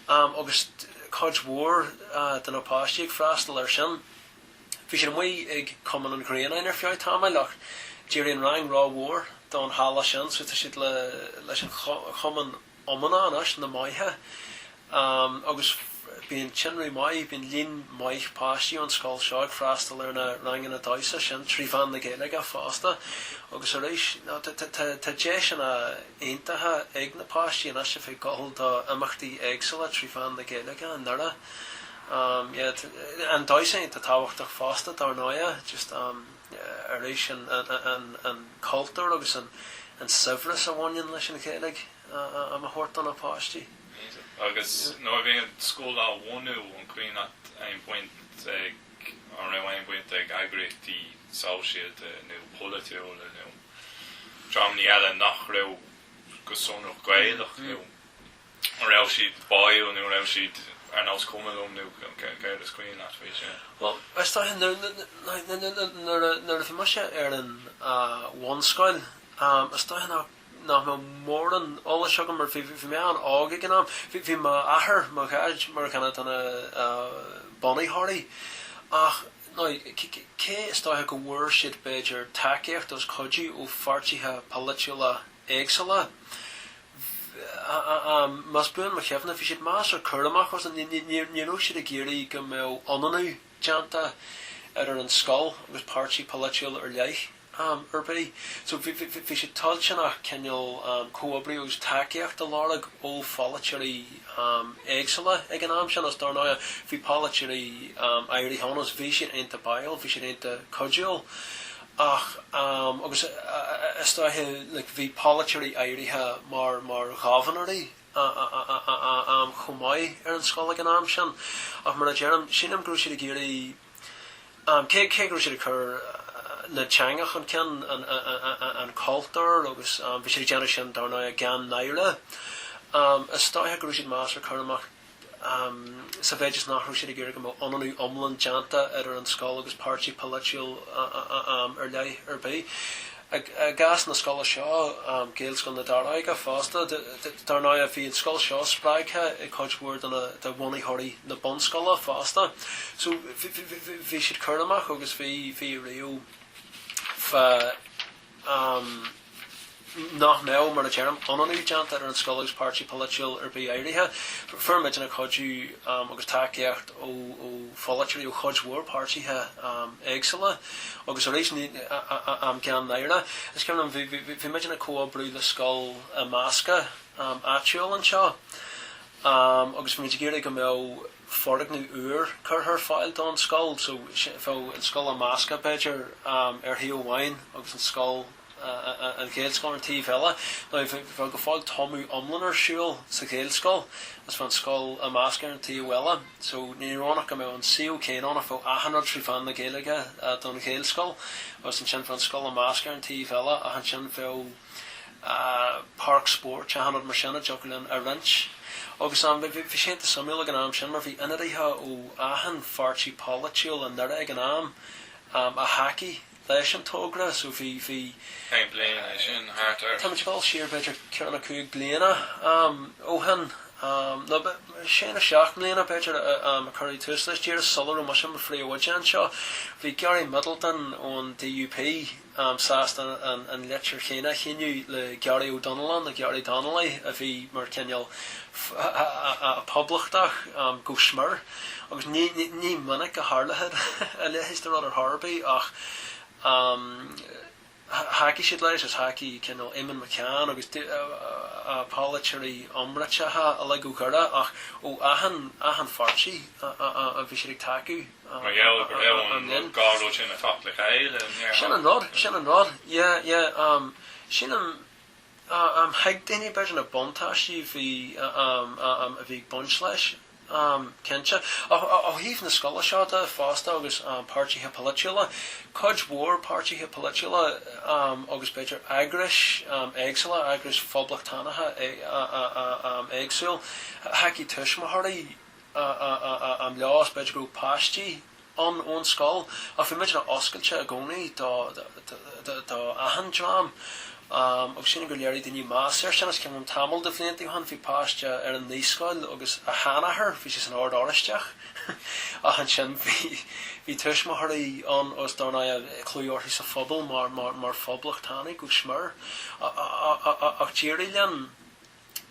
am, agus cuid mhór de na páistí ag freastal air sin. Bhí siad amuigh ag Cumann an Ghrianáin ar feadh tamaill ach d'éirigh an rang ró-mhór don halla sin so tá siad le, leis an chumann. iomána anois, Na Magha agus bíonn tinreamh maith, bíonn líon maith páistí ón scoil seo ag freastal ar na ranganna damhsa sin trí mheán na Gaeilge fosta agus arís tá deiseanna iontacha ag na páistí anois a bheith ag gabháil do imeachtaí éagsúla trí mheán na Gaeilge i nDoire. Yeah, an damhsa iontach tábhachtach fosta dár ndóighe. arís an cultúr agus an saibhreas a bhaineann leis an Ghaeilge am a thabhairt do na páistí. Agus nuair a bhíonn scoil á bhunú an cuimhin leat aon bhaint ag, an raibh aon bhaint ag eagraíochtaí sóisialta nó polaitiúla nó dreamanna eile nach raibh go sonrach Gaelach nó. An raibh siad báúil nó an raibh siad ar nós cuma liom nó céard is cuimhin leat faoi sin? Bhuel, is dóiche, nuair a bhí mise ar an bhunscoil, is dóiche nach mbeadh mórán eolais agam mar bhí mé an-óg ag an am. Bhí m'athair, mo dhaid mar dhuine de na bunaitheoirí ach cé is dóiche go bhfuair siad b'fhéidir tacaíocht agus cuidiú ó pháirtithe polaitiúla éagsúla. más buan mo chuimhne, bhí siad measartha cúramach agus ní raibh siad ag iarraidh go mbeadh ionannú déanta idir an scoil agus páirtí polaitiúil ar leith ar bith. So bhí siad toilteanach cineál comhoibriú agus tacaíocht a lorg ó pholaiteoirí éagsúla ag an am sin agus dár ndóigh bhí polaiteoirí áirithe ann agus bhí siad iontach báúil, bhí siad iontach cuidiúil. Ach agus is dóiche like bhí polaiteoirí áirithe mar, mar ghobharnóirí chomh maith ar an scoil ag an am sin ach mar a deirim, sílim go raibh siad ag iarraidh cé, cé go raibh siad ag cur na teanga chun cinn, an cultúr agus bhí siad ag déanamh sin dar ndóigh gan náire. Is dóiche go raibh siad measartha cúramach. sa mhéid is nach raibh siad ag iarraidh go mbeadh ionannú iomlán déanta idir an scoil agus páirtí polaitiúil am ar leith ar bith. I gcás na scoile seo, Gaelscoil na Daróige fosta, dar ndóigh bhí an scoil seo spreagtha ag cuid mhór de bhunaitheoirí na bunscoile fosta. So bhí siad cúramach agus bhí ariamh fá. amh nach mbeadh, mar a deirim, ionannú déanta idir an scoil agus páirtí polaitiúil ar bith áirithe. Fuair muidinne cuidiú agus tacaíocht ó pholaiteoirí ó chuid mhór páirtithe éagsúla agus arís, gan náire, is cuimhin liom, bhí muidinne ag comhoibriú le scoil imeasctha áitiúil anseo agus bhí muid ag iarraidh go mbeadh. foirgneamh úr curtha ar fáil don scoil so bheadh an scoil imeasctha b'fhéidir ar thaobh amháin agus an scoil, an Ghaelscoil ar an taobh eile. Now bheadh go fóill tumadh iomlán ar siúl sa Ghaelscoil agus bheadh an scoil imeasctha ar an taobh eile so ní raibh ann ach go mbeadh an suíomh céanna ann ach bheadh achan rud trí mheán na Gaeilge don Ghaelscoil agus ansin bheadh an scoil imeasctha ar an taobh eile ach ansin bheadh páirc spóirt, achan rud mar sin a dtiocfadh linn a roinnt. Agus am, bhí sé iontach suimiúil ag an am sin mar bhí ionadaithe ó achan pháirtí polaitiúil i nDoire ag an am a thacaigh leis an togra so bhí, bhí. Cén bliain é sin? Thart ar. Tá muid ag gabháil siar b'fhéidir ceithre nó cúig bliana ó shin nó sé nó seacht mbliana b'fhéidir a cuireadh tús leis, díreach sula raibh mise i mo phríomhoide anseo. Bhí Gary Middleton ón DUP. am sásta an leitir chéanna a shíniú le Gary O Donnellan, le Gary Donnelly a bhí mar chineál Poblachtach go smior agus ní minic a tharla a leithéid de rud ar chor ar bith ach thacaigh siad leis agus thacaigh cineál Eamonn McCann agus polaiteoirí iomráiteacha uilig ó Dhoire ach ó achan pháirtí bhí siad ag tacú. Mar gheall go raibh an rud gárúil sin ag teacht le chéile, níor thaitin. Sin an rud, sin an rud. Yeah, yeah, um, sin an, um, thuig daoine beidir na buntáistí a bhí, um, um, bhí ag baint leis, um, cinnte. Ó thaobh na scoile seo de fosta agus um, páirtithe polaitiúla, cuid mhór páirtithe polaitiúla um, agus b'fhéidir eagrais um, éagsúla, eagrais phoblachtánacha um, éagsúil, thacaigh tuismitheoirí, am leo agus b'fhéidir go raibh páistí ann ón scoil ach bhí muidne oscailte i gcónaí d'achan dream agus sílim gur léirigh daoine meas ar sin agus is cuimhin liom tamall de bhlianta ó shin bhí páiste ar an naíscoil agus a sheanathair bhí sé san Ord Oraisteach ach ansin bhí tuismitheoirí ann agus dar ndóigh bhí clú orthu sa phobal mar phoblachtánaigh go smior ach d'éirigh linn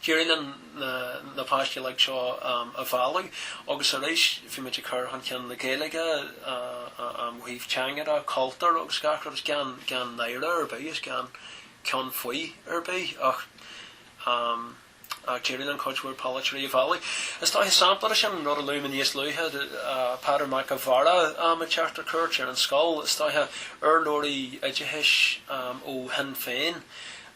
D'éirigh linn na páistí uilig seo a mhealladh agus arís bhí muid ag cur chun cinn na Gaeilge ó thaobh teanga de, cultúr agus gach rud, gan náire ar bith is gan ceann faoi ar bith ach d'éirigh linn cuid mhór polaiteoirí a mhealladh. Is dóiche sampla de sin an rud a luaigh mé níos luaithe, Peadar Mac an Bhaird ag teacht ar cuairt ar an scoil, is dóiche urlabhraí oideachais ó Shinn Féin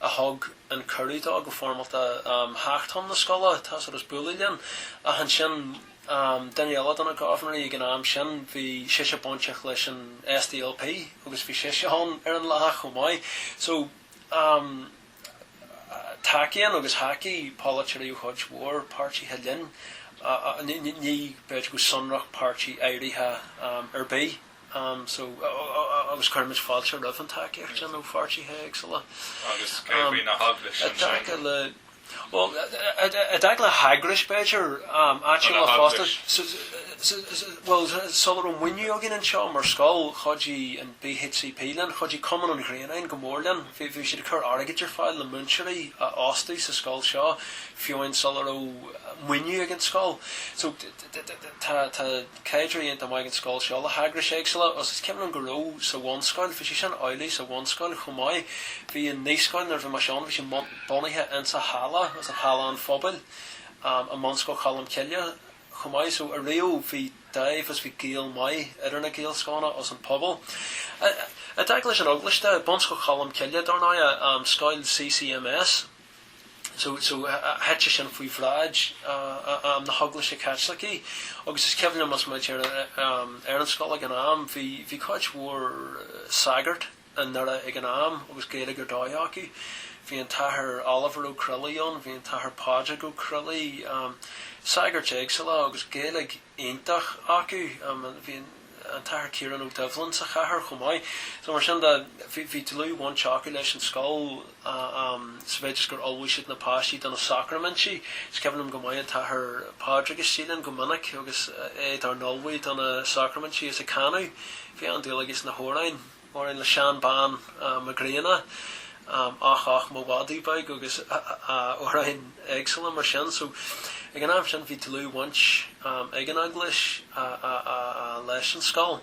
a thug, an cuireadh dó go foirmeálta theacht chun na scoile, tá's agat is bualadh linn. Ach ansin duine eile de na Gobharnóirí ag an am sin bhí sise bainteach leis an SDLP agus bhí sise ann ar an lá chomh maith. So tacaíonn agus thacaigh polaiteoirí ó chuid mhór páirtithe linn, ní b'fhéidir go sonrach páirtí áirithe ar bith. Um, so, agus cuirimid fáilte roimh an tacaíocht sin ó pháirtithe éagsúla. Agus cé faoi na heagrais ansin? I dtaca le, bhuel, i dtaca le heagrais, b'fhéidir, um, áitiúla fosta, so, bhuel, sula raibh maoiniú againn anseo mar scoil, chuidigh an BHCP linn, chuidigh Cumann an Ghrianáin go mór linn. Bhí, bhí siad ag cur airgid ar fáil le múinteoirí a fhostú sa scoil seo fiúin sula raibh maoiniú ag an scoil. So, tá. Caidreamh iontach maith ag an scoil seo le heagrais éagsúla agus is cuimhin liom go raibh sa bhunscoil, bhí sé sin amhlaidh sa bhunscoil chomh maith, bhí an naíscoil nuair a bhí mise ann, bhí sé bunaithe insa halla i halla an phobail, i mBunscoil Cholm Cille chomh maith so ariamh bhí dáimh agus bhí gaol maith idir na Gaelscoileanna agus an pobal. I dtaca leis an Eaglais de, Bunscoil Cholm Cille dar ndóigh, scoil CCMS, so thit sé sin faoi bhráid na hEaglaise Caitlicí agus is cuimhin liom is muid ar an scoil ag an am, bhí cuid mhór sagart i nDoire ag an am agus Gaeilge ar dóigh acu, bhí an tAthair Oliver Ó Croiligh ann, bhí an tAthair Pádraig Ó Croiligh, sagairt éagsúla agus Gaeilge iontach acu. an tAthair Ciarán Ó Doibhlin sa chathair chomh maith. So mar sin de, bhí, bhí dlúthbhaint acu leis an scoil sa mhéid is gur ullmhaigh siad na páistí do na sacraimintí. Is cuimhin liom go maith an tAthair Pádraig istigh linn go minic agus é dár n-ullmhú do na sacraimintí is ag canadh. Bhí an-dúil aige sna hamhráin. mar shampla Seán Bán Mac Grianna, ach ach mo mhadadh beag agus amhráin éagsúla mar sin. So ag an am sin bhí dlúthbhaint ag an Eaglais leis an scoil.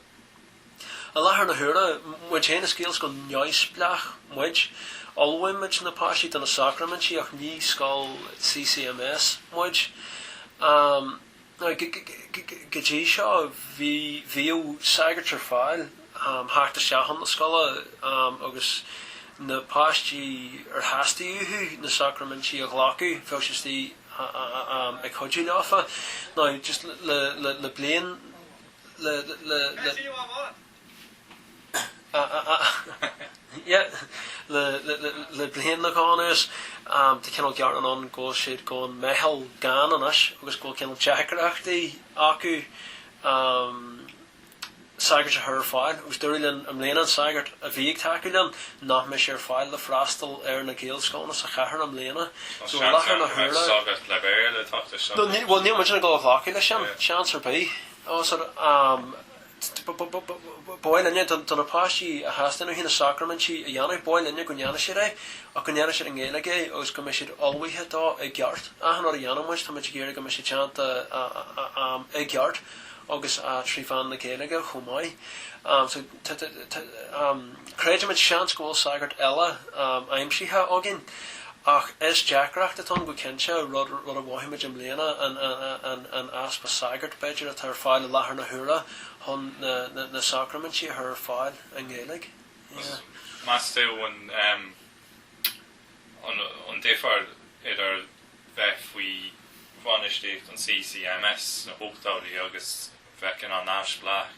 I láthair na huaire, muid féin is Gaelscoil neamhspleách muid. Ullmhaímid na páistí do na sacraimintí ach ní scoil CCMS muid. Now go dtí seo bhí, bhíodh sagart ar fáil le theacht isteach chun na scoile agus na páistí ar theastaigh uathu na sacraimintí a ghlacadh, bheadh sé istigh ag cuidiú leofa. Now just le, le, le bliain, le, le, le, le. Le bliain nó dhó anuas tá cineál gearán ann go bhfuil siad gone measartha gann anois agus go bhfuil cineál deacrachtaí acu sagairt a chur ar fáil agus dúradh linn i mbliana an sagart a bhí ag tacú linn nach mbeidh sé ar fáil le freastal ar na Gaelscoileanna sa chathair i mbliana. So i láthair na huaire sagart le Béarla atá ansin. Bhuel níl muid ag dul a ghlacadh leis sin, seans ar bith. Ba mhaith linne do na páistí a theastaíonn uathu na sacraimintí a dhéanamh, ba mhaith linne go ndéanfadh siad é, ach go ndéanfadh siad i nGaeilge é agus go mbeadh siad ullmhaithe dó i gceart. Achan rud a dhéanann muid, tá muid ag iarraidh go mbeadh sé déanta i gceart agus trí mheán na Gaeilge chomh maith. Creidimid seans go bhfuil sagart eile aimsithe againn, ach is deacracht atá ann go cinnte, rud a mhothaímid i mbliana, an easpa sagart, b'fhéidir, atá ar fáil i láthair na huaire chun na sacraimintí a chur ar fáil i nGaeilge. Meas tú an difear idir bheith faoi bhainistíocht an CCMS sna hochtóidí agus bheith neamhspleách?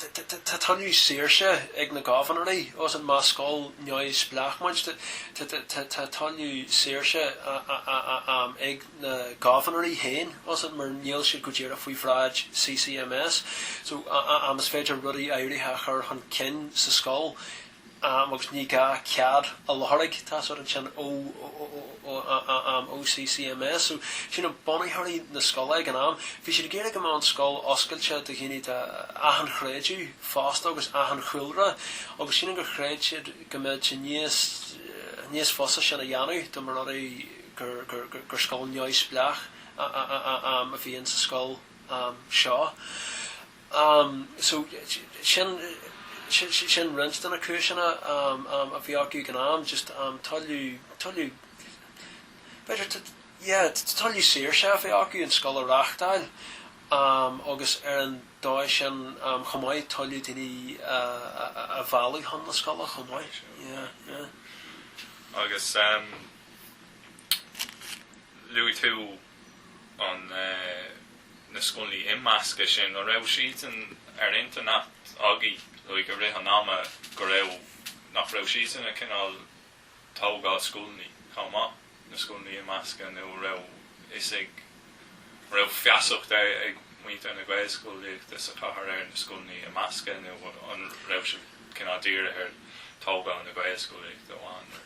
Tá tuilleadh saoirse ag na gobharnóirí ansin más scoil neamhspleách muid. Tá tuilleadh saoirse ag na gobharnóirí féin ansin mar níl siad go díreach faoi bhráid CCMS. Is féidir rudaí áirithe a chur chun cinn sa scoil. am agus ní gá cead a iarraidh. Tá's agat ansin ó am CCMS so sílim bunaitheoirí na scoile ag an am. Bhí siad ag iarraidh go mbeadh an scoil oscailte do dhaoine de achan chreideamh fosta agus achan chúlra agus sílim gur chreid siad go mbeadh sé níos níos fusa sin a dhéanamh dá mba rud é gur gur scoil neamhspleách a bhí in sa scoil seo. Um, so, sin, sin roinnt de na cúiseanna, um, um, a bhí acu ag an am, just, um, tuilleadh, tuilleadh, b'fhéidir, b'fhéidir, yeah, tuilleadh saoirse a bheith acu an scoil a reáchtáil, um, agus ar an dóigh sin, um, chomh maith, tuilleadh daoine a, a, a, a mhealladh chun na scoile chomh maith, yeah, yeah. Agus, um, luaigh tú an, na scoileanna imeasctha sin an raibh siadsan ar intinn agaibh like i rith an ama go raibh nach raibh sibhse ag cineál tógáil scoileanna chomh maith na scoileanna imeasctha nó an raibh a fhios ag, an raibh feasacht ag muintir na Gaelscolaíochta sa chathair ar na scoileanna imeasctha nó an raibh siad cineál dírithe ar tógáil na Gaelscolaíochta amháin.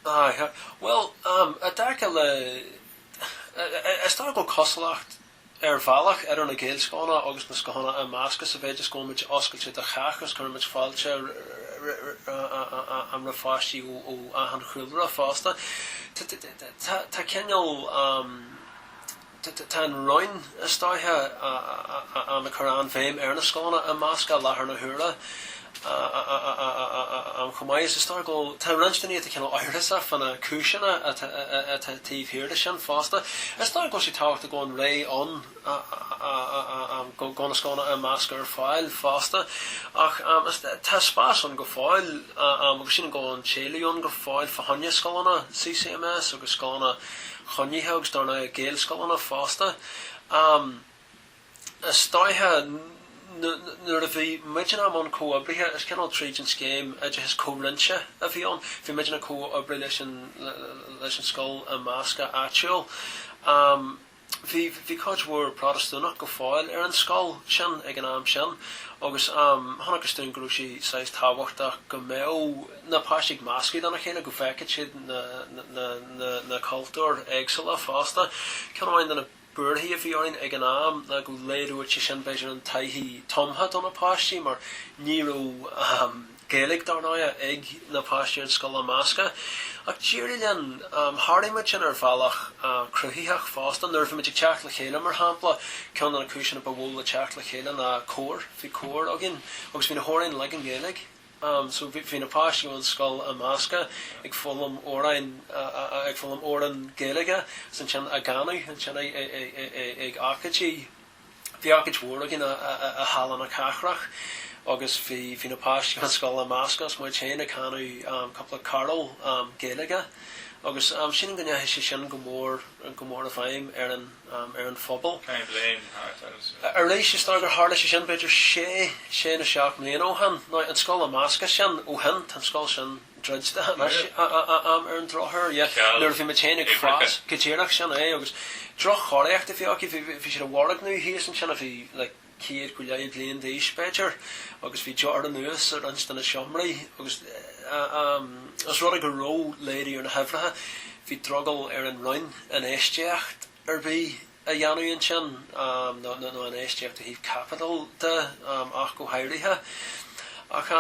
Bhuel, i dtaca le, is dóiche go bhfuil cosúlacht, ar bhealach, idir na Gaelscoileanna agus na scoileanna imeasctha sa mhéid is go bhfuilmid oscailte do chách agus cuirimid fáilte roimh pháistí ó achan chúlra fosta. Tá cineál. Tá an Roinn, is dóiche, am, ag cur an-bhéim ar na scoileanna imeasctha i láthair na huaire chomh maith. Is dócha go bhfuil, tá roinnt daoine atá cineál amhrasach fá na cúiseanna atá taobh thiar de sin fosta. Is dócha go bhfuil sé tábhachtach go bhfuil an rogha ann go bhfuil na scoileanna imeasctha ar fáil fosta. Ach tá spás ann go fóill agus sílim go bhfuil an t-éileamh ann go fóill fá choinne scoileanna CCMS agus scoileanna, coinnithe agus do na Gaelscoileanna fosta. Is dóiche nuair a bhí muidinne, am, an comhoibriú, is cineál tríd an scéim oideachais comhroinnte a bhí ann, bhí muidinne ag comhoibriú leis an leis an scoil imeasctha áitiúil. Bhí bhí cuid mhór Protastúnach go fóill ar an scoil sin ag an am sin agus chonacthas dúinn go raibh sé saghas tábhachtach go mbeadh na páistí ag meascadh lena chéile go bhfeicfeadh siad na cultúir éagsúla fosta. Ceann amháin de na buarthaí a bhí orainn ag an am ná go laghdódh sé sin b'fhéidir an taithí thumtha do na páistí mar ní raibh Gaeilge, dár ndóighe, ag na páistí ar an scoil imeasctha. Ach d'éirigh linn. Sháraigh muid sin ar bhealach cruthaitheach fosta. Nuair a bhí muid ag teacht le chéile, mar shampla, ceann de na cúiseanna ba mhó le teacht le chéile ná cór. Bhí cór againn agus bhí na hamhráin uilig i nGaeilge. am so bhí na páistí ón scoil imeasctha ag foghlaim amhráin ag foghlaim amhrán Gaeilge agus ansin á gcanadh ansin ag ocáidí bhí ocáid mhór againn i Halla na Cathrach agus bhí bhí na páistí ón scoil imeasctha agus muid féin ag canadh am cúpla carúl am Gaeilge agus am sílim go ndeachaigh sé sin go mór go mór i bhfeidhm ar an ar an phobal. Arís, is dóigh gur tharla sé sin b'fhéidir sé sé nó seacht mbliana ó shin. Ná an scoil imeasctha sin ó shin, tá an scoil sin druidte anois ar an drochuair. Nuair a bhí muid féin ag fás, go díreach, sin é agus droch-chóiríocht a bhí acu, bhí siad i bhfoirgneamh thíos ansin a bhí like, chéad go leith bliain d'aois, b'fhéidir, agus bhí deor anuas ar roinnt de na seomraí, agus os rud é go raibh laghdú ar na huimhreacha, bhí drogall ar an Roinn infheistíocht ar bith a dhéanamh ansin, nó infheistíocht ó thaobh caipitil de ach go háirithe. Ach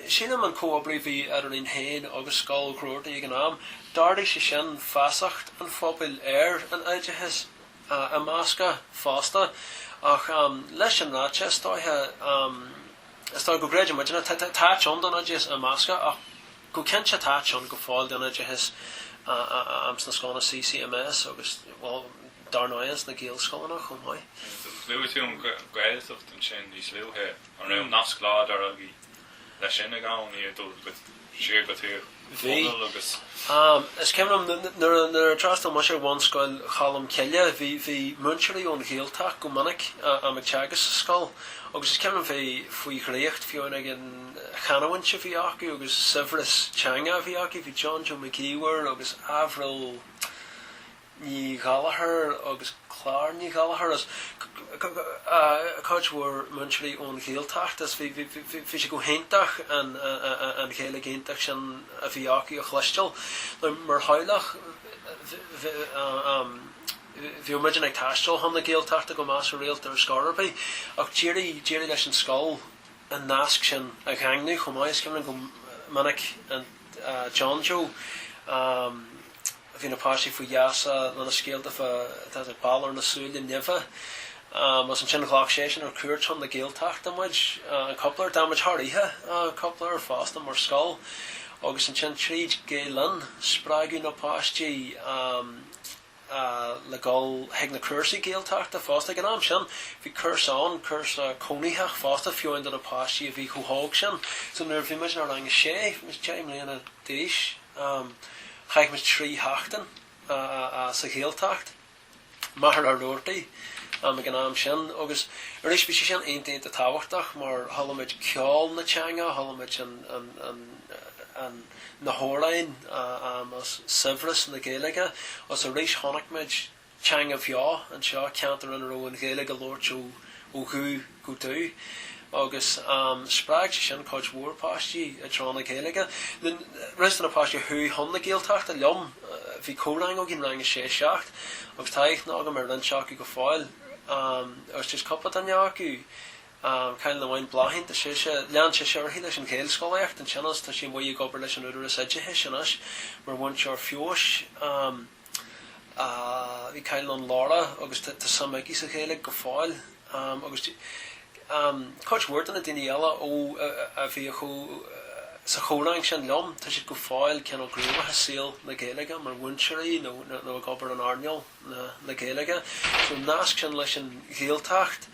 sílim an comhoibriú a bhí eadrainn féin agus Scoil Ghroarty ag an am, d'ardaigh sé sin feasacht an phobail ar an oideachas. imeasctha fosta. Ach leis sin ráite, is dóiche, is dóiche go gcreideann muidinne, tá, tá, tá áit ann don oideachas imeasctha ach go cinnte tá áit ann go fóill don oideachas amh sna scoileanna CCMS agus, bhuel, dar ndóighe ins na Gaelscoileanna chomh maith. Luaigh tú an Ghaeltacht ansin níos luaithe. An raibh nasc láidir agaibh Leis sin ag am níor dul siar go Tír Chonaill agus. Am, is cuimhin liom nuair a d'fhreastal mise ar Bhunscoil Cholm Cille bhí múinteoirí ón Ghaeltacht go minic am ag teagasc sa scoil agus is cuimhin liom a bheith faoi dhraíocht fiú amháin ag an chanamhaint a bhí acu agus saibhreas teanga a bhí acu. Bhí John Joe Mac Íomhair agus Avril Ní Ghallachair agus Clár Ní Ghallachair is cuid mhór múinteoirí ón Ghaeltacht is bhí sé go hiontach an Ghaeilge iontach sin a bhí acu a chloisteáil. Now mar theaghlach bhíodh muidinne ag taisteal chun na Gaeltachta go measartha rialta ar scor ar bith ach d'éirigh d'éirigh leis an scoil an nasc sin a dhaingniú chomh maith is cuimhin liom go minic John Joe Bhí na páistí faoi gheasa lena scéalta fá dtaobh de Balor na Súile Nimhe agus ansin ghlac seisean ar cuairt chun na Gaeltachta muid, an cúpla uair d'fhan muid thar oíche, cúpla uair fosta mar scoil agus ansin tríd Gael Linn spreagadh na páistí le dhul chuig na cúrsaí Gaeltachta fosta. Ag an am sin bhí cúrsa ann, cúrsa cónaitheach fosta fiú amháin do na páistí a bhí chomh hóg sin. So nuair a bhí muid inár rang a sé, bhí muid deich mbliana d'aois, Chaith muid trí sheachtain sa Ghaeltacht, Machaire Rabhartaigh ag an am sin agus arís bhí sé sin iontach iontach tábhachtach mar chuala muid ceol na teanga, chuala muid na hamhráin, saibhreas na Gaeilge agus arís chonaic muid. teanga bheo anseo, ceantar ina raibh an Ghaeilge á labhairt ó dhubh go dubh agus spreag sé sin cuid mhór páistí i dtreo na Gaeilge. Roinnt de na páistí a chuaigh chun na Gaeltachta liom, bhí comhrang againn, rang a sé, a seacht, agus tá aithne agam ar roinnt acu go fóill agus just cúpla duine acu, cailín amháin, Bláithín, tá sise, lean sise uirthi leis an Ghaelscolaíocht ansin agus tá sí amuigh ag obair leis an Údarás Oideachais anois mar mhúinteoir feabhais. Bhí cailín ann, Laura, agus tá suim aici sa Ghaeilge go fóill agus cuid mhór de na daoine eile ó a bhíodh sa chomhrang sin liom, tá siad go fóill cineál gníomhach i saol na Gaeilge mar mhúinteoirí nó ag obair in earnáil na Gaeilge. So an nasc sin leis an Ghaeltacht,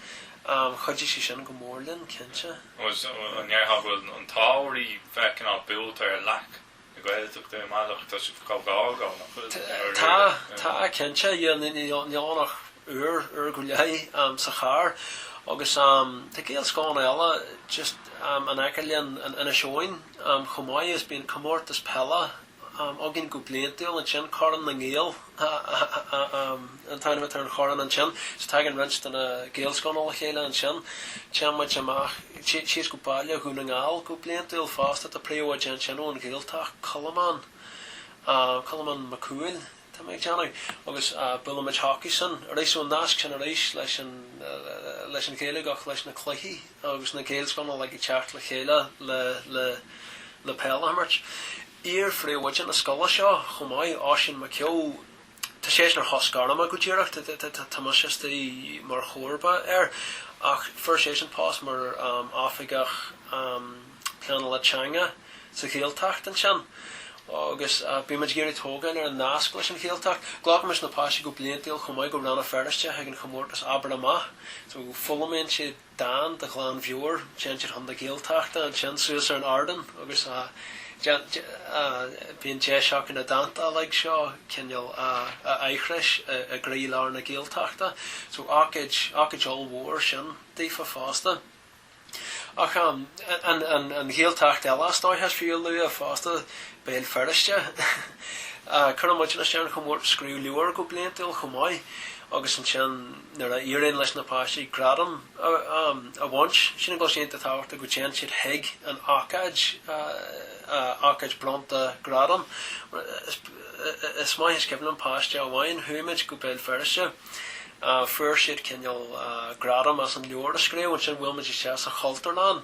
chuidigh sé sin go mór linn, cinnte. An ndéarfá go bhfuil an t-ádh oraibh bheith cineál buailte ar leac na Gaeltachta ar bhealach, tá sibh chomh gar sin nach bhfuil? Tá, tá cinnte, yeah níl ann ach uair, uair go leith sa charr agus tá Gaelscoileanna eile just in aice linn in Inis Eoghain chomh maith is bíonn comórtas peile againn go bliantúil ansin, Corn na nGael. an t-ainm atá ar an chorn ansin so tagann roinnt de na Gaelscoileanna le chéile ansin. Téann muid amach síos go Baile Dhún na nGall go bliantúil fosta. Tá príomhoide ansin ón Ghaeltacht, Colmán, Colmán Mac Cumhaill tá mé ag déanamh agus buailimid chucusan arís so an nasc sin arís leis an, leis an Ghaeilge ach leis na cluichí agus na Gaelscoileanna like ag teacht le chéile le, le, le peil a imirt. iar-phríomhoide na scoile seo chomh maith, Oisín Mac Eó, tá seisean ar shos gairme go díreach, tá mise istigh mar chomharba air, ach fuair seisean post mar oifigeach pleanála teanga sa Ghaeltacht ansin agus bímid ag iarraidh tógáil ar an nasc leis an Ghaeltacht. Glacaimis na páistí go bliantúil chomh maith go Rann na Feirste chuig an chomórtas Abair Amach, so foghlaimíonn siad, dán de ghlan mheabhair, téann siad chun na Gaeltachta ansin suas ar an ardán agus bíonn deis acu na dánta uilig seo cineál a aithris i gcroí lár na Gaeltachta. So ócáid, ócáid ollmhór sin daofa fosta. Ach an Ghaeltacht eile is dóiche is fiú a lua fosta, Béal Feirste. Cuireann muidne isteach ar an chomórtas Scríobh Leabhar go bliantúil chomh maith agus ansin, nuair a éiríonn leis na páistí gradam a bhaint, sin tá sé iontach tábhachtach go dtéann siad chuig an ócáid, ócáid bronnta gradam. Is maith is cuimhin liom páiste amháin, chuaigh muid go Béal Feirste, fuair siad cineál gradam as an leabhar a scríobh, ansin bhuail muid isteach sa Chultúrlann,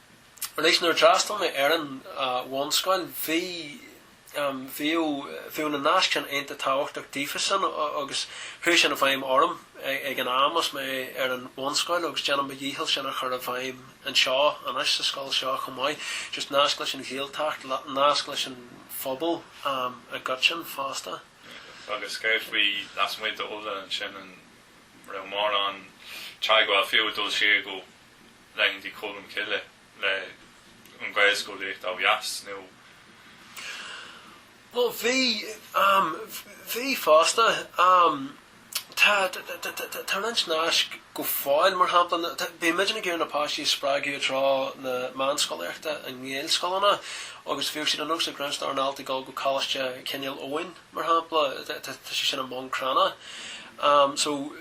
Arís nuair a d'fhreastal mé ar an bhunscoil bhí, bhíodh, bhíodh na naisc sin iontach tábhachtach daofasan agus chuaigh sin i bhfeidhm orm ag an am is mé ar an bhunscoil agus déanaim mo dhícheall sin a chur i bhfeidhm anseo anois sa scoil seo chomh maith, just nasc leis an Ghaeltacht, nasc leis an phobal i gcoitinn fosta. Agus céard faoi lasmuigh d'Uladh ansin, an raibh mórán teagmháil fiú ag dul siar go. laethanta Cholm Cille le an Ghaelscolaíocht ó dheas nó? Bhuel, bhí, bhí fosta. Tá, tá roinnt naisc go fóill, mar shampla, bímidne ag iarraidh na páistí a spreagadh i dtreo na meánscolaíochta i nGaelscoileanna agus bhíodh sé de nós ag roinnt dár ndaltaí dul go Coláiste Chineál Eoghain, mar shampla, tá sé sin i mBun Cranncha. So.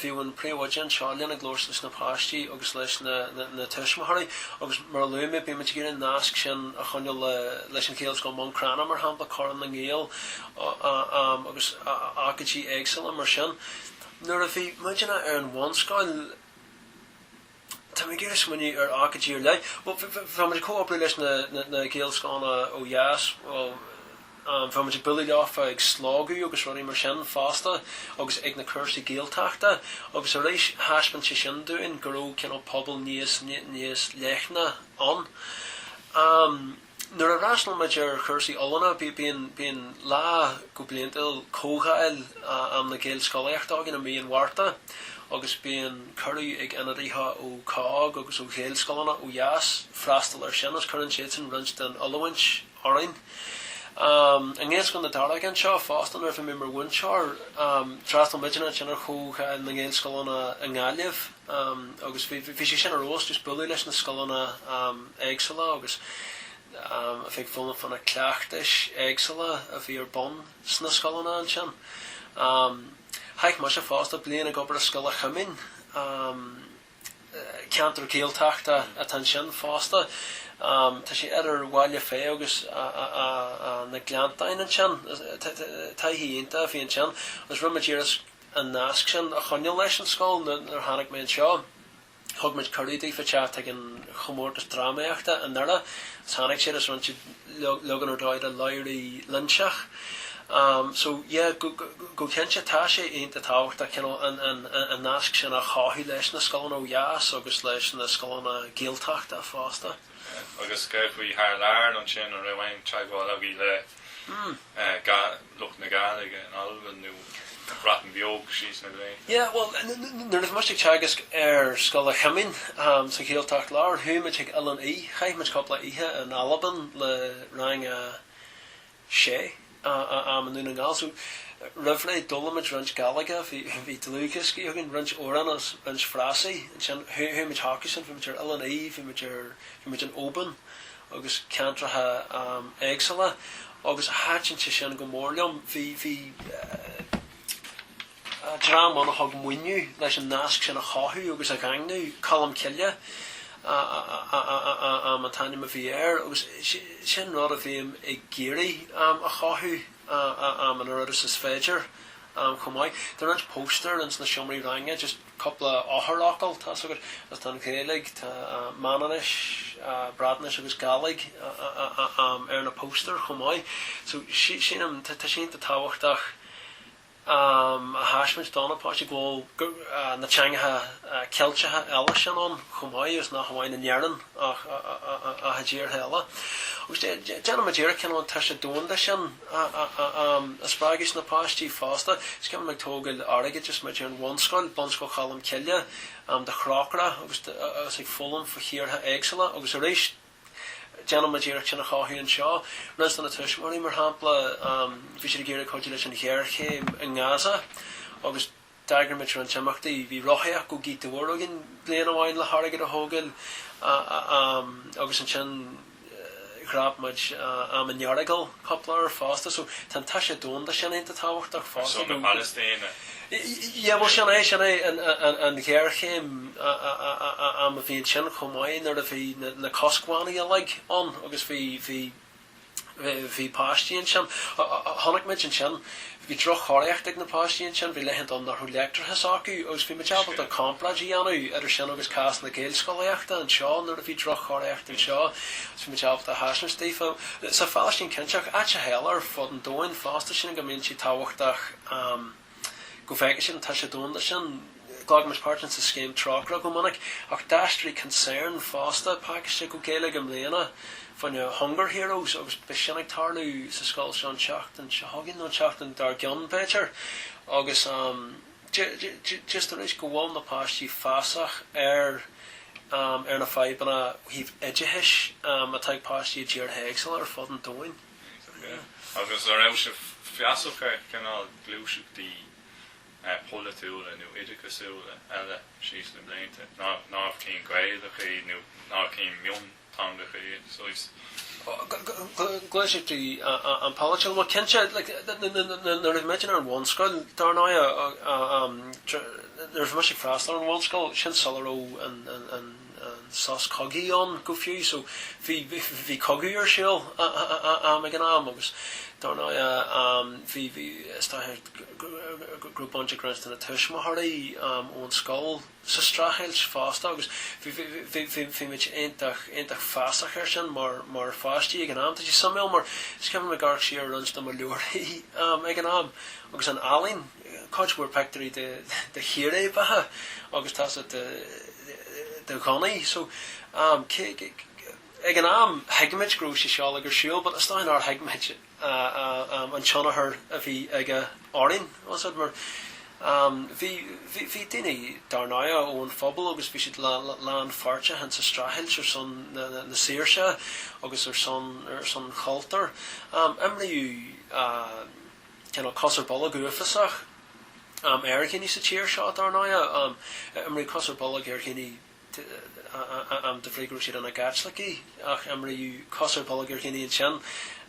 Bhíodh an príomhoide anseo lena gclos leis na páistí agus leis na tuismitheoirí agus mar a luaigh mé bímid ag iarraidh an nasc sin a choinneáil leis an Ghaelscoil Bhun Cranncha mar shampla, Corn na nGael agus ócáidí éagsúla mar sin. Nuair a bhí muidinne ar an bhunscoil, Tá mé ag smaoineamh ar ócáidí ar leith, bhí muid ag comhoibriú leis na Gaelscoileanna ó dheas. Bhuel, bhí muid ag bualadh leofa ag Slógadh agus rudaí mar sin fosta agus ag na cúrsaí Gaeltachta agus arís thaispeáin sé sin dúinn go raibh cineál pobal níos, níos leithne ann. Nuair a fhreastal muid ar chúrsaí oiliúna bíonn lá go bliantúil comhdháil am na Gaelscolaíochta againn i mí an Mhárta agus bíonn cuireadh ag ionadaithe ó COGG agus ó Ghaelscoileanna ó dheas freastal ar sin agus cuireann siadsan roinnt den oiliúint orainn. I nGaelscoil na Daróige anseo fosta nuair a bhí mé mar mhúinteoir d'fhreastal muidinne ansin ar chomhdháil na nGaelscoileanna i nGaillimh. Agus bhí sé sin arís just bualadh leis na scoileanna éagsúla agus a bheith ag foghlaim fá na cleachtais éagsúla a bhí ar bun sna scoileanna ansin. Chaith mise fosta bliain ag obair i Scoil an Choimín, ceantar Gaeltachta atá ansin fosta. Tá sé idir Bhealach Féich agus na Gleanntáin ansin. Taithí iontach a bhí ansin agus rinne muid iarracht an nasc sin a choinneáil leis an scoil. Nuair a tháinig mé anseo thug muid cuireadh daofa teacht chuig an chomórtas drámaíochta i nDoire agus tháinig siad agus rinne siad leagan ar dóigh de Labhraí Loingseach so yeah go cinnte tá sé iontach tábhachtach cineál an nasc sin a chothú leis na scoileanna ó dheas agus leis na scoileanna Gaeltachta fosta. Agus céard faoi thar lear ansin, an raibh aon teagmháil agaibh le lucht na Gaeilge in Albain nó an Bhreatain Bheag síos na gcré. Yeah, bhuel, nuair a bhí mise ag teagasc ar Scoil an Choimín sa Ghaeltacht Láir, chuaigh muid chuig Oileán Í. Chaith muid cúpla oíche in Albain le Rang a 6 i nDún na nGall. So, roimh ré, d'fhoghlaim muid roinnt Gaidhlig, bhí dlúthdhioscaí againn, roinnt amhrán agus roinnt frásaí. Ansin, chuaigh muid chucusan, bhí muid ar Oileán Í, bhí muid ar, bhí muid in Óban, agus ceantracha éagsula agus thaitin sé sin go mór liom. Bhí dream ann a thug maoiniú leis an nasc sin a chothú agus a dhaingniú, Colm Cille an t-ainm a bhí air agus sin rud a bhím ag iarraidh a chothú an oiread is is féidir chomh maith. Tá roinnt póstaer ins na seomraí ranga just. cúpla eochairfhocal, tá's agat, agus tá an Ghaeilge, tá Manainnis, Breatnais agus Gaidhlig ar na póstaeir chomh maith. So sílim, tá sé iontach tábhachtach a thaispeáint do na páistí go bhfuil na teangacha Ceilteacha eile sin ann chomh maith agus nach amháin in Éirinn ach i dtíortha eile. Agus déanann muid iarracht, cineál an toise domhanda sin, a spreagadh ins na páistí fosta. Is cuimhin liom ag tógáil airgid is muid ar an bhunscoil, Bunscoil Cholm Cille, do Thrócaire agus is ag foghlaim fá thíortha éagsúla agus arís déanann muid iarracht sin a chothú anseo. Roinnt de na tuismitheoirí, mar shampla, bhí siad ag iarraidh cuidiú leis an ghéarchéim i nGaza agus. D'eagraigh muid roinnt imeachtaí. Bhí rothaíocht go Gaoth Dobhair againn bliain amháin le hairgead a thógáil agus ansin dhreap muid am, an Earagail cúpla uair fosta. So tá an toise domhanda sin iontach tábhachtach fosta. Ar son na Palaistíne? Yeah, bhuel sin é, sin é an ghéarchéim a bhí ansin chomh maith nuair a bhí na coscbhannaí uilig ann agus bhí, bhí, Bhí páistí ansin. Chonaic muid ansin, bhí droch-chóiríocht ag na páistí ansin, bhí laethanta ann nach raibh leictreachas acu agus bhí muid ábalta comparáid a dhéanamh idir sin agus cás na Gaelscolaíochta anseo nuair a bhí droch-chóiríocht anseo agus bhí muid ábalta a thaispeáint daofa, sa Phalaistín cinnteach, áiteacha eile ar fud an domhain fosta, sílim go mbíonn sé tábhachtach. Go bhfeiceann siad an toise domhanda sin. Ghlacaimis páirt ins an scéim Trócaire go minic, ach d'aistrigh Concern fosta pácaiste go Gaeilge i mbliana faoi na Hunger Heroes agus beidh sin ag tarlú sa scoil seo an tseachtain seo chugainn nó an tseachtain dár gcionn, b'fhéidir. Agus just arís go bhfuil na páistí feasach ar na fadhbanna ó thaobh oideachais atá ag páistí i dtíortha éagsúla ar fud an domhain. Agus a' raibh sibh feasach ar chineál gluaiseachtaí polaitiúla nó oideachasúla eile síos na blianta, nár chinn Ghaelacha iad nó nár chinn mionteangacha iad, saghas. gluaiseachtaí an-pholaitiúil, bhuel cinnte like nuair a bhí muid ar an bhunscoil dar ndóigh nuair a bhí mise ag freastal ar an bhunscoil sin sula raibh an an sos cogaidh ann go fiú so bhí bhí cogadh ar siúl a'm ag an am agus dar ndóigh a'm bhí bhí is dócha go raibh baint ag roinnt de na tuismitheoirí a'm ón scoil sa streachailt fosta agus bhí bhí bhí bhí bhí muid iontach iontach feasach ar sin mar mar pháistí ag an am tá sé suimiúil mar scaití bím ag amharc siar ar roinnt de mo leabharthaí a'm ag an am agus an ealaín cuid mhór pictiúirí de chíréibeacha agus tá's agat de ghunnaí so ag an am thuig muid go raibh sé seo uilig ar siúl but is dóigh nár thuig muid an tionchar a bhí aige orainn tá's agat mar bhí bhí daoine dar ndóigh ón phobal agus bhí siad lánpháirteach in sa streachailt ar son na saoirse agus ar son ar son chultúr imríodh cineál cos ar bolg uafásach ar dhaoine sa tír seo, dár ndóigh. Imríodh cos ar bolg ar dhaoine de bhrí go raibh siad ina gCaitlicigh ach imríodh cos ar bolg ar dhaoine ansin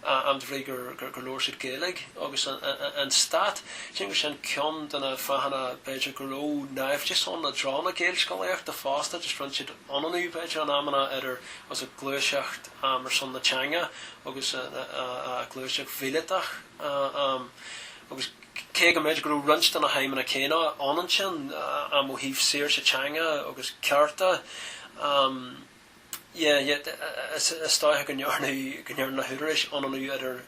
de bhrí gur labhair siad Gaeilge. Agus an Stát, sílim gur sin ceann de na fáthanna b'fhéidir go raibh naimhdeas ann i dtreo na Gaelscolaíochta fosta toisc go rinn siad ionannú b'fhéidir in amanna idir tá's agat gluaiseacht ar son na teanga agus gluaiseacht mhíleatach. Agus cé go mb'fhéidir go raibh roinnt de na haidhmeanna céanna ann ansin ó thaobh saoirse teanga agus cearta de, is dóiche go ndearna na húdaráis ionannú idir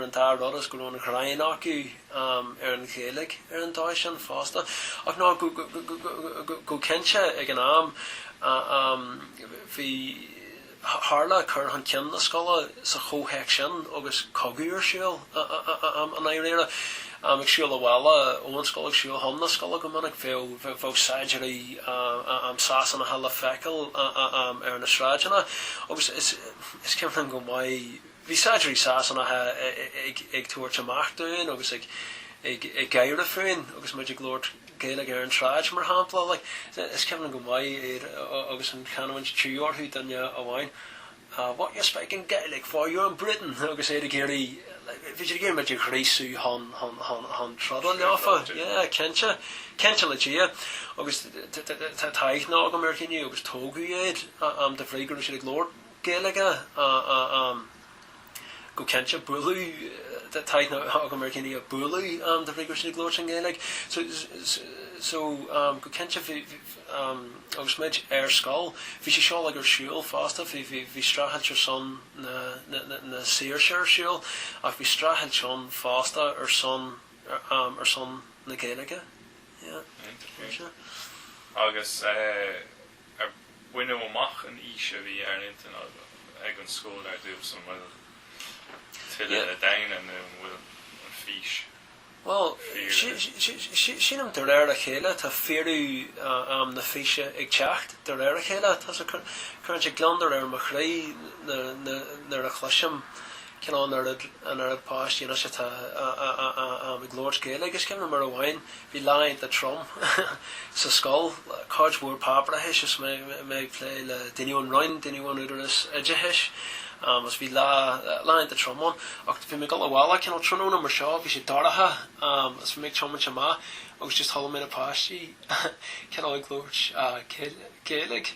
an dá rud agus go raibh an ghráin acu ar an Ghaeilge ar an dóigh sin fosta. Ach ná go cinnte ag an am bhí, Tharla cur chun cinn na scoile sa chomhthéacs sin agus cogadh ar siúl i ndáiríre. Ag siúl abhaile ón scoil, ag siúl chun na scoile go minic, bheadh saighdiúirí Sasanacha le feiceáil ar na sráideanna agus is cuimhin liom go maith, Bhí saighdiúirí Sasanacha ag tabhairt amach dúinn agus ag gáire fúinn agus muid ag labhairt Gaeilge ar an tsráid, mar shampla. Is cuimhin liom go maith iad agus an chanúint tíre orthu, duine amháin, What you speaking Gaelic for, you're in Britain! agus iad ag iarraidh, bhí siad ag iarraidh muid a ghríosú chun troda leofa. Yeah, cinnte. Cinnte le Dia. Agus tá aithne agam ar dhaoine agus tógadh iad, de bhrí go raibh siad ag labhairt. Gaeilge go cinnte. Bualadh tá aithne agam ar dhaoine a bualadh de bhrí go raibh siad ag labhairt i nGaeilge so go cinnte bhí agus muid ar scoil bhí sé seo ag ar siúl fosta bhí bhí streachailt ar son na na saoirse ar siúl ach bhí streachailt ann fosta ar son ar son na Gaeilge yeah. Agus. Ar baineadh amach an fhís a bhí ar intinn ag an scoil ar dtús? An bhfuil tuilleadh le déanamh nó an bhfuil an fís fíor? Bhuel, sílim de réir a chéile tá fíorú am na físe ag teacht de réir a chéile. Tá sé ag cur gliondar ar mo chroí nuair a chloisim cineál an oiread, an oiread páistí anois atá ag labhairt Gaeilge. Is cuimhin liom uair amháin, bhí lá iontach trom sa scoil, cuid mhór páipéarachais is mé ag plé le daoine ón Roinn, daoine ón Údarás Oideachais agus bhí lá, lá iontach trom ann. Ach bhí mé ag dul abhaile, cineál tráthnóna mar seo, bhí sé dorcha is bhí mé ag tiomáint amach agus just chuala mé na páistí cineál ag labhairt Gaeilge.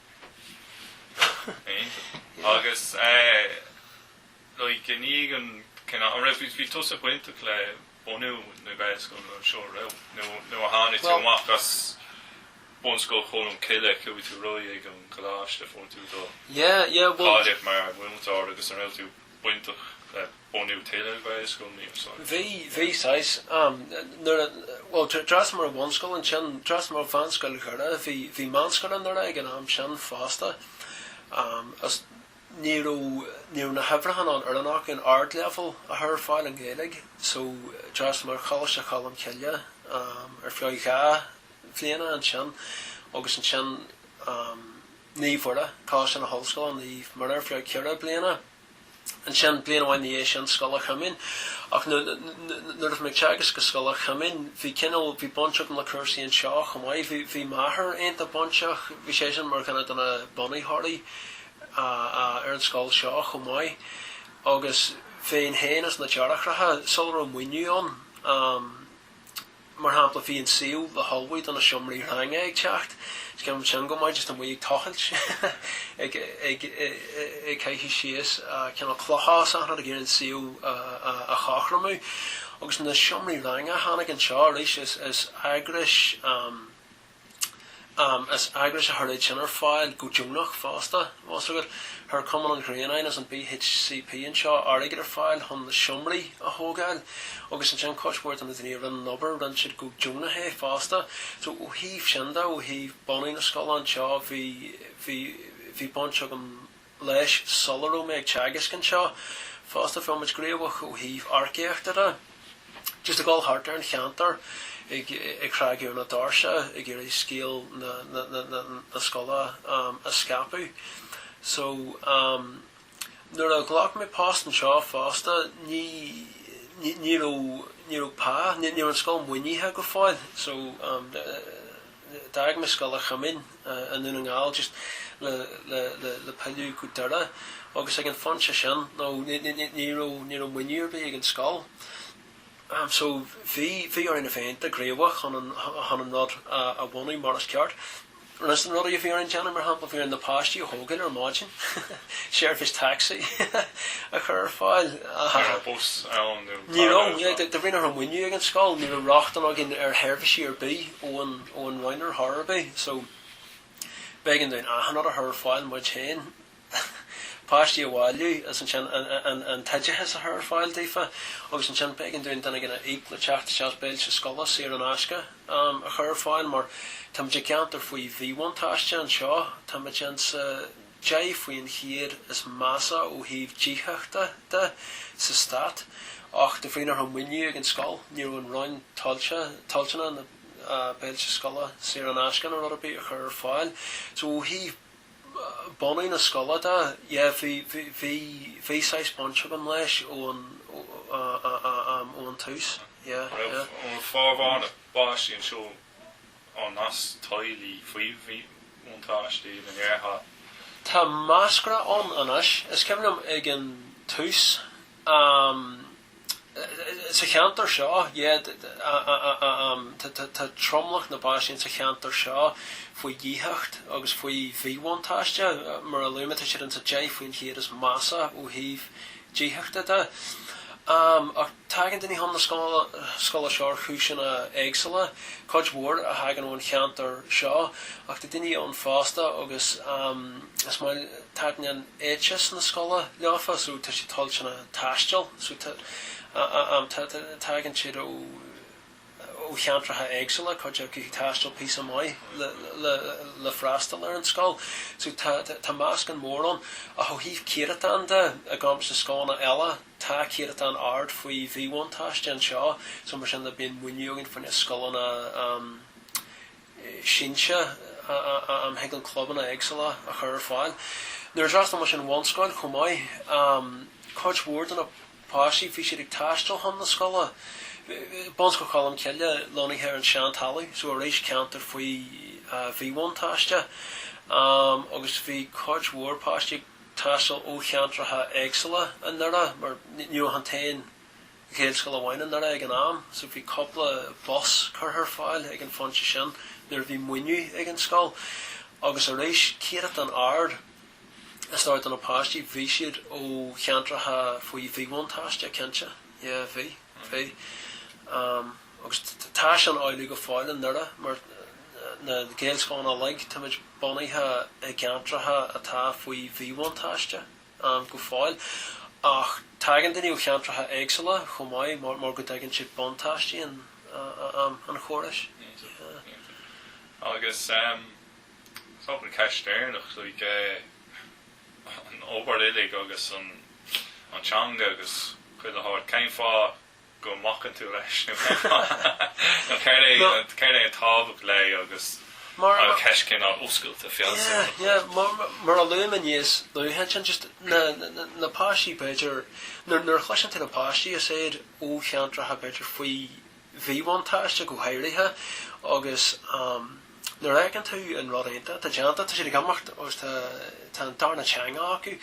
Agus like i ndiaidh an kind of an raibh bhí tusa bainteach le bunú na Gaelscoile nó anseo a raibh nó nuair a tháinig tú amach as Bunscoil Cholm Cille chuaigh tú ar aghaidh ag an gColáiste fuair tú do cháilíocht mar mhúinteoir agus an raibh tú bainteach le bunú tuilleadh Gaelscoileanna anseo. Bhí, bhí saghas, nuair a, bhuel d'fhreastal mé ar bhunscoil ansin, d'fhreastal mé ar Mheánscoil Dhoire, bhí, bhí meánscoil i nDoire ag an am sin fosta agus ní raibh, ní raibh na huimhreacha ná an fhoireann acu an ardleibhéal a chur ar fáil i nGaeilge so d'fhreastal mé ar Choláiste Cholm Cille ar feadh dhá bhliana ansin agus ansin Naomh Mhuire, Coláiste na hOllscoile Naomh Muire ar feadh ceithre bliana. Ansin, bliain amháin ina dhiaidh sin, Scoil Chuimín. Ach nuair a bhí mé ag teagasc i Scoil Chuimín, bhí cineál, bhí baint agam le cúrsaí anseo chomh maith. Bhí, bhí m'athair iontach bainteach, bhí seisean mar dhuine de na bunaitheoirí ar an scoil seo chomh maith. Agus bhínn féin is na deartháireacha, sula raibh maoiniú ann, Mar shampla, bhí an suíomh le hullmhú do na seomraí ranga ag teacht, is cuimhin liom sin go maith, just amuigh ag tochailt, ag, ag, ag caitheamh síos cineál clocha is achan rud ag iarraidh an suíomh a chothromú. Agus na seomraí ranga, tháinig anseo arís is, is eagrais, Is eagrais a chuir sin ar fáil, go deonach fosta, tá a fhios agat, chuir Cumann an Ghrianáin is an BHCP anseo airgead ar fáil chun na seomraí a thógáil agus ansin cuid mhór de na daoine a rinne an obair, rinne siad go deonach é fosta. So, ó thaobh sin de, ó thaobh bunú na scoile anseo, bhí, bhí, bhí baint agam. leis sula raibh mé ag teagasc anseo fosta bhí muid gníomhach ó thaobh earcaíochta de just ag dul thart ar an cheantar ag ag cnagadh ar na doirse ag iarraidh scéal na na na na na scoile a scaipeadh so nuair a ghlac mé post anseo fosta ní ní ní raibh ní raibh pá ní raibh an scoil maoinithe go fóill so D'fhág mé scoil an Chumainn i nDún na nGall just le pilleadh go Doire agus ag an phointe sin nó ní raibh maoiniú ar bith ag an scoil so bhí orainn a bheith gníomhach chun an rud a bhunú mar is ceart. Is na rudaí a bhí orainn déanamh mar shampla bhí orainn na páistí a thógáil ar maidin, seirbhís taxi a chur ar fáil. Ní raibh bus ann nó car ann. Ní raibh, de bhrí nach raibh maoiniú ag an scoil ní raibh rochtain againn ar sheirbhísí ar bith. ón ón Roinn ar chor ar bith so b'éigean dúinn achan rud a chur ar fáil muid féin. páistí a bhailiú is ansin an an t-oideachas a chur ar fáil daofa agus ansin b'éigean dúinn duine inteacht a íoc le teacht isteach béilí scoile saor in aisce a chur ar fáil mar táimid i gceantar faoi mhíbhuntáiste anseo táimid insa 10 faoin chéad is measa ó thaobh díothachta de sa stát, ach de bhrí nach raibh maoiniú ag an scoil ní raibh an Roinn toilteanach na béilí scoile saor in aisce nó rud ar bith a chur ar fáil. So ó thaobh bunú na scoile de, yeah, bhí, bhí, bhí, bhí saghas baint agam leis ón, ón tús, yeah, yeah. An raibh formhór na bpáistí anseo ó theaghlaigh faoi mhíbhuntáiste an ndéarfá. Tá meascra ann anois. Is cuimhin liom ag an tús, sa cheantar seo, tá tromlach na bpáistí sa cheantar seo faoi dhíothacht agus faoi mhíbhuntáiste. Mar a luaigh mé, tá siad ins an deich faoin chéad is measa ó thaobh díothachta de. Ach. Tagann daoine chun na scoile seo ar chúiseanna éagsúla, cuid mhór a thagann ón cheantar seo ach tá daoine ann fosta agus is maith taitneann éiteas na scoile leofa so tá siad toilteanach taisteal so tagann siad ó cheantracha éagsúla, cuid acu ag taisteal píosa maith le freastal ar an scoil so tá meascán mór ann ach ó thaobh céatadán de, i gcomparáid le scoileanna eile, Tá céadatán ard faoi mhíbhuntáiste anseo so mar sin bíonn muinín againn faoi na scoileanna sinse am chuig na clubanna éagsúla a chur ar fáil. Nuair a d'fhreastal mise an bhunscoil chomh maith cuid mhór de na páistí bhí siad ag taisteal chun na scoile. Bunscoil Cholm Cille lonnaithe ar an Seantalamh so arís ceantar faoi mhíbhuntáiste agus bhí cuid mhór páistí ag taisteal ó cheantracha éagsúla i nDoire mar ní raibh ach an t-aon Ghaelscoil amháin i nDoire ag an am so bhí cúpla bus curtha ar fáil ag an phointe sin nuair a bhí muidne ag an scoil. Agus arís céatadán ard is dóigh de na páistí bhí siad ó cheantracha faoi mhíbhuntáiste cinnte yeah bhí bhí. Agus tá sin amhlaidh go fóill i nDoire mar na Gaelscoileanna uilig, táimid bunaithe i gceantracha atá faoi mhíbhuntáiste go fóill. Ach tagann daoine ó cheantracha éagsúla chomh maith mar go dtuigeann siad buntáistí an chórais. Agus an cheist dheireanach like an obair uilig agus an teanga agus chuile shórt, cén fáth? go mbacann tú leis nó cén fáth nó céard é Nó. céard é an tábhacht leis agus ceist cineál oscailte Yeah feabhsú. yeah mar mar a luaigh mé níos luaithe ansin just na na na páistí b'fhéidir nuair nuair a chloiseann tú na páistí is iad ó cheantracha b'fhéidir faoi mhíbhuntáiste go háirithe agus nuair a fheiceann tú an rud iontach atá déanta tá siad ag imeacht agus tá tá an darna teanga acu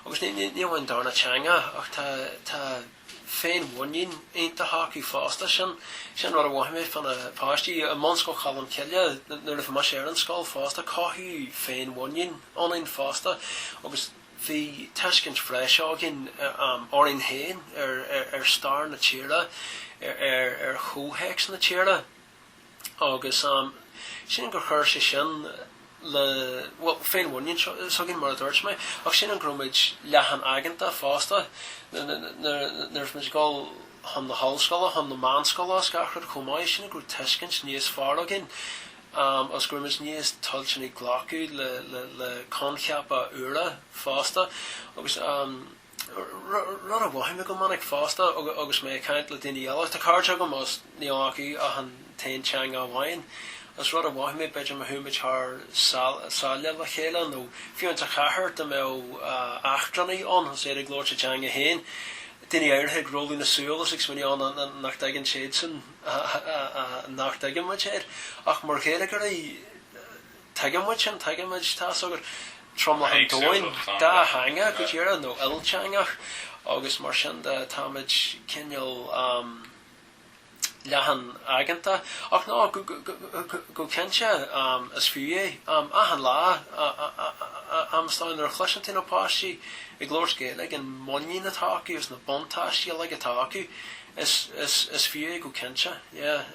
agus ní ní amháin darna teanga ach tá tá féinmhuinín iontach acu fosta. Sin an rud a mhothaigh mé fá na páistí i mBunscoil Cholm Cille nuair a bhí mise ar an scoil fosta. Cothaíodh féinmhuinín ionainn fosta agus bhí tuiscint bhreise againn orainn féin, ar stair na tíre, ar chomhthéacs na tíre. agus sílim gur chuir sé sin le, bhuel, féinmhuinín s'againn mar a dúirt mé, ach sílim go raibh muid leathan aigeanta fosta nuair is muid ag dul chun na hollscoile, chun na meánscoile is gach rud chomh maith, sílim go raibh tuiscint níos fearr againn agus go raibh muid níos toilteanaí glacadh le coincheapa úra fosta agus. rud a mhothaigh mé go minic fosta agus mé ag caint le daoine eile. Tá cairde agam is níl acu ach an t-aon teanga amháin agus rud a mhothaigh mé, b'fhéidir má chuaigh muid thar sáile le chéile nó fiú insa chathair, dá mbeadh eachtrannaigh ann agus iad ag labhairt a dteanga féin, daoine áirithe ag rolladh na súl is ag smaoineamh á nach dtuigeann siadsan nach dtuigeann muidne iad ach mar Ghaeilgeoirí, Tuigimid sin, tuigimid. Tá 's agaibh. Tromlach an domhain, dátheangach go díreach nó ilteangach agus mar sin de táimid cineál leathanaigeanta. Ach no, go cinnte is fiú é. Achan lá, am is dóigh, nuair a chloiseann tú na páistí ag labhairt Gaeilge, an muinín atá acu is na buntáistí uilig atá acu, is fiú é go cinnte. Yeah.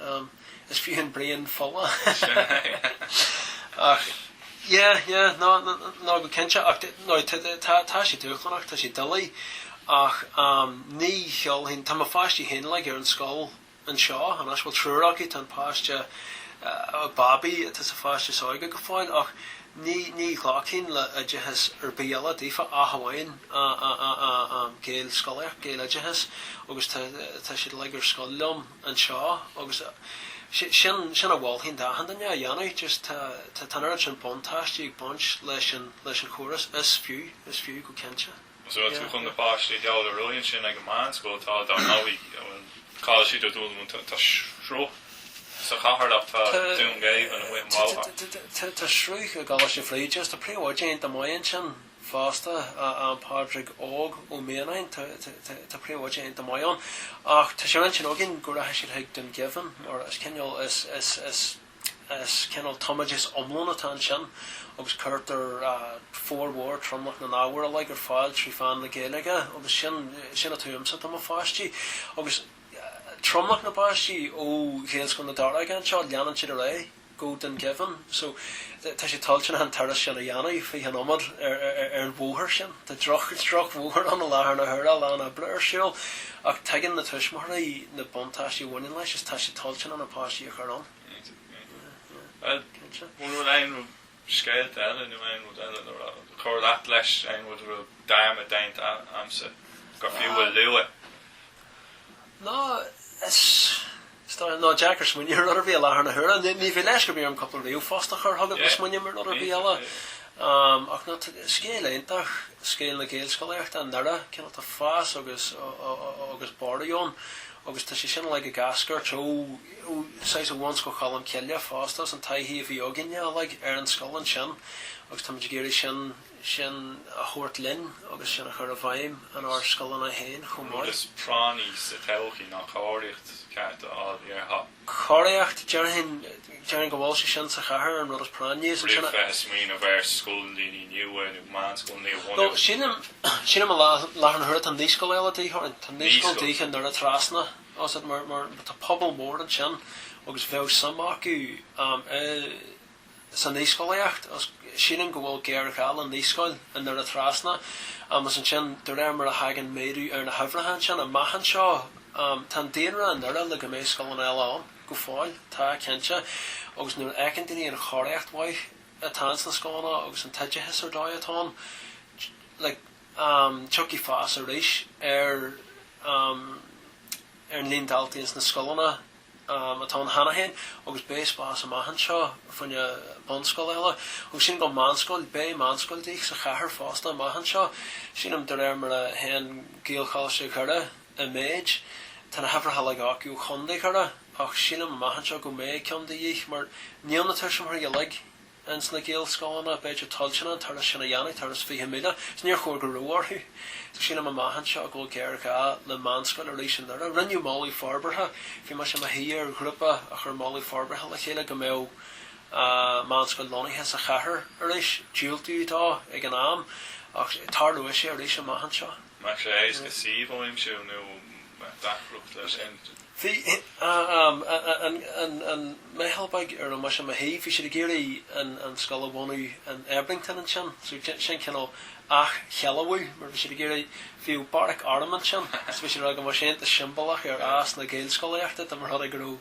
Is fiú an braon fola. Ach yeah, yeah, ná, ná go cinnte. Ach t- ná t- tá, tá sé dúshlánach, tá sé doiligh. Ach ní sheolfainn, tá mo pháistí féin uilig ar an scoil anseo, anois, bhuel triúr acu, tá an páiste babaí atá sa pháiste is óige go fóill, ach ní, ní ghlacfainn le oideachas ar bith eile daofa ach amháin Gaelscolaíocht, Gaeloideachas, agus tá, tá siad uilig ar scoil liom. anseo agus sin a mholfainn d'achan duine a dhéanamh just tá an oiread sin buntáistí ag baint leis an chóras is fiú, is fiú go cinnte. So an bhfuil tú chun na páistí a ghabháil ar aghaidh ansin ag an meánscoil tá dar ndóigh a bhfuil cáil siad ag dul No tá sruth sa chathair ach tá Dún Geimhin amuigh an bóthar. Tá sruth i gColáiste Bhríde is tá príomhoide iontach maith ansin. fosta, an Pádraig Óg Ó Mianáin, tá príomhoide iontach maith ann, ach tá sé ar intinn againn go rachaidh siad chuig Dún Geimhin, mar is cineál, is cineál tumoideas iomlán atá ansin, agus cuirtear formhór tromlach na n-ábhar uilig ar fáil trí mheán na Gaeilge, agus sin, sin atá uaimse, tá mo pháistí, agus tromlach na bpáistí ó Ghaelscoil na Daróige anseo, leanann siad ar aghaidh. go Dún Geimhin so tá siad toilteanach an turas sin a dhéanamh fiche nóiméad ar an bhóthar sin. Tá drochbhóthar ann i láthair na huaire, a lán oibre ar siúl ach tuigeann na tuismitheoirí na buntáistí a bhaineann leis is tá siad toilteanach na páistí a chur ann. Cinnte. Bhuel, bhfuil aon rud, scéalta eile nó aon rud eile le rá, chur leat leis aon rud a raibh dearmad déanta a'msa gur fiú a lua? Ná ná deacair smaoineamh ar rud ar bith i láthair na huaire. Ní bheidh leisc ar bith orm cúpla ríomhphost a chur chugat má smaoiním ar rud ar bith eile. Ach ná scéal iontach scéal na Gaelscolaíochta i nDoire. Cineál tá fás agus agus borradh ann agus tá sé sin uilig ag eascairt ó ó saghas ó Bhunscoil Cholm Cille fosta as an taithí a bhí againne uilig ar an scoil ansin agus táimid ag iarraidh sin a sin a thabhairt linn agus sin a chur i bhfeidhm in ár scoileanna féin chomh maith. An rud is práinní sa todhchaí ná cóiríocht cheart a fháil, déarfá. Cóiríocht, déarfainn, déarfainn go bhfuil sé sin sa chathair an rud is práinní. Is ansin a bheith ag smaoineamh ar scoileanna nua nó meánscoileanna a bhunú. Bhuel, sílim, sílim i láthair na huaire tá naíscoil eile de dhíth orainn, tá naíscoil Naíscoil? de dhíth i nDoire Trasna, tá pobal mór ansin agus bheadh suim acu i, sa naíscolaíocht agus sílim go bhfuil géarghá le naíscoil i nDoire Trasna agus ansin de réir mar a thagann méadú ar na huimhreacha ansin amach anseo, tá an daonra i nDoire le go mbeidh scoileanna eile ann go fóill, tá, cinnte agus nuair a fheiceann daoine an chóiríocht mhaith atá ins na scoileanna agus an t-oideachas ar dóigh atá ann like tiocfaidh fás arís ar an líon daltaí ins na scoileanna. atá ann cheana féin agus beidh spás amach anseo fá choinne bunscoil eile. Agus sílim go meánscoil, beidh meánscoil de dhíth sa chathair fosta amach anseo. Sílim, de réir mar a théann Gaelcholáiste Dhoire i méid, tá na huimhreacha uilig acu ó Chontae Dhoire, ach sílim amach anseo go mbeidh ceann de dhíth mar níl na tuismitheoirí uilig, ins na Gaelscoileanna, b'fhéidir, toilteanach an turas sin a dhéanamh, turas fiche míle, 'S níor chóir go raibh orthu. Sílim amach anseo go bhfuil géarghá le meánscoil arís i nDoire. Rinneadh moladh forbartha, bhí mise i mo shuí ar ghrúpa a chuir moladh forbartha le chéile go mbeadh meánscoil lonnaithe sa chathair arís. Diúltaíodh dó ag an am ach tarlóidh sé arís amach anseo. Maidir le suíomh a aimsiú nó deacracht leis sin. Bhí an meitheal beag ar a raibh mise i mo shuí, bhí siad ag iarraidh an scoil a bhunú in Ebrington ansin, so sin cineál athshealbhú mar bhí siad ag iarraidh, bhíodh beairic airm ansin so bhí siad ag rá go mbeadh sé iontach siombalach ar fhás na Gaelscolaíochta dá mba rud é go raibh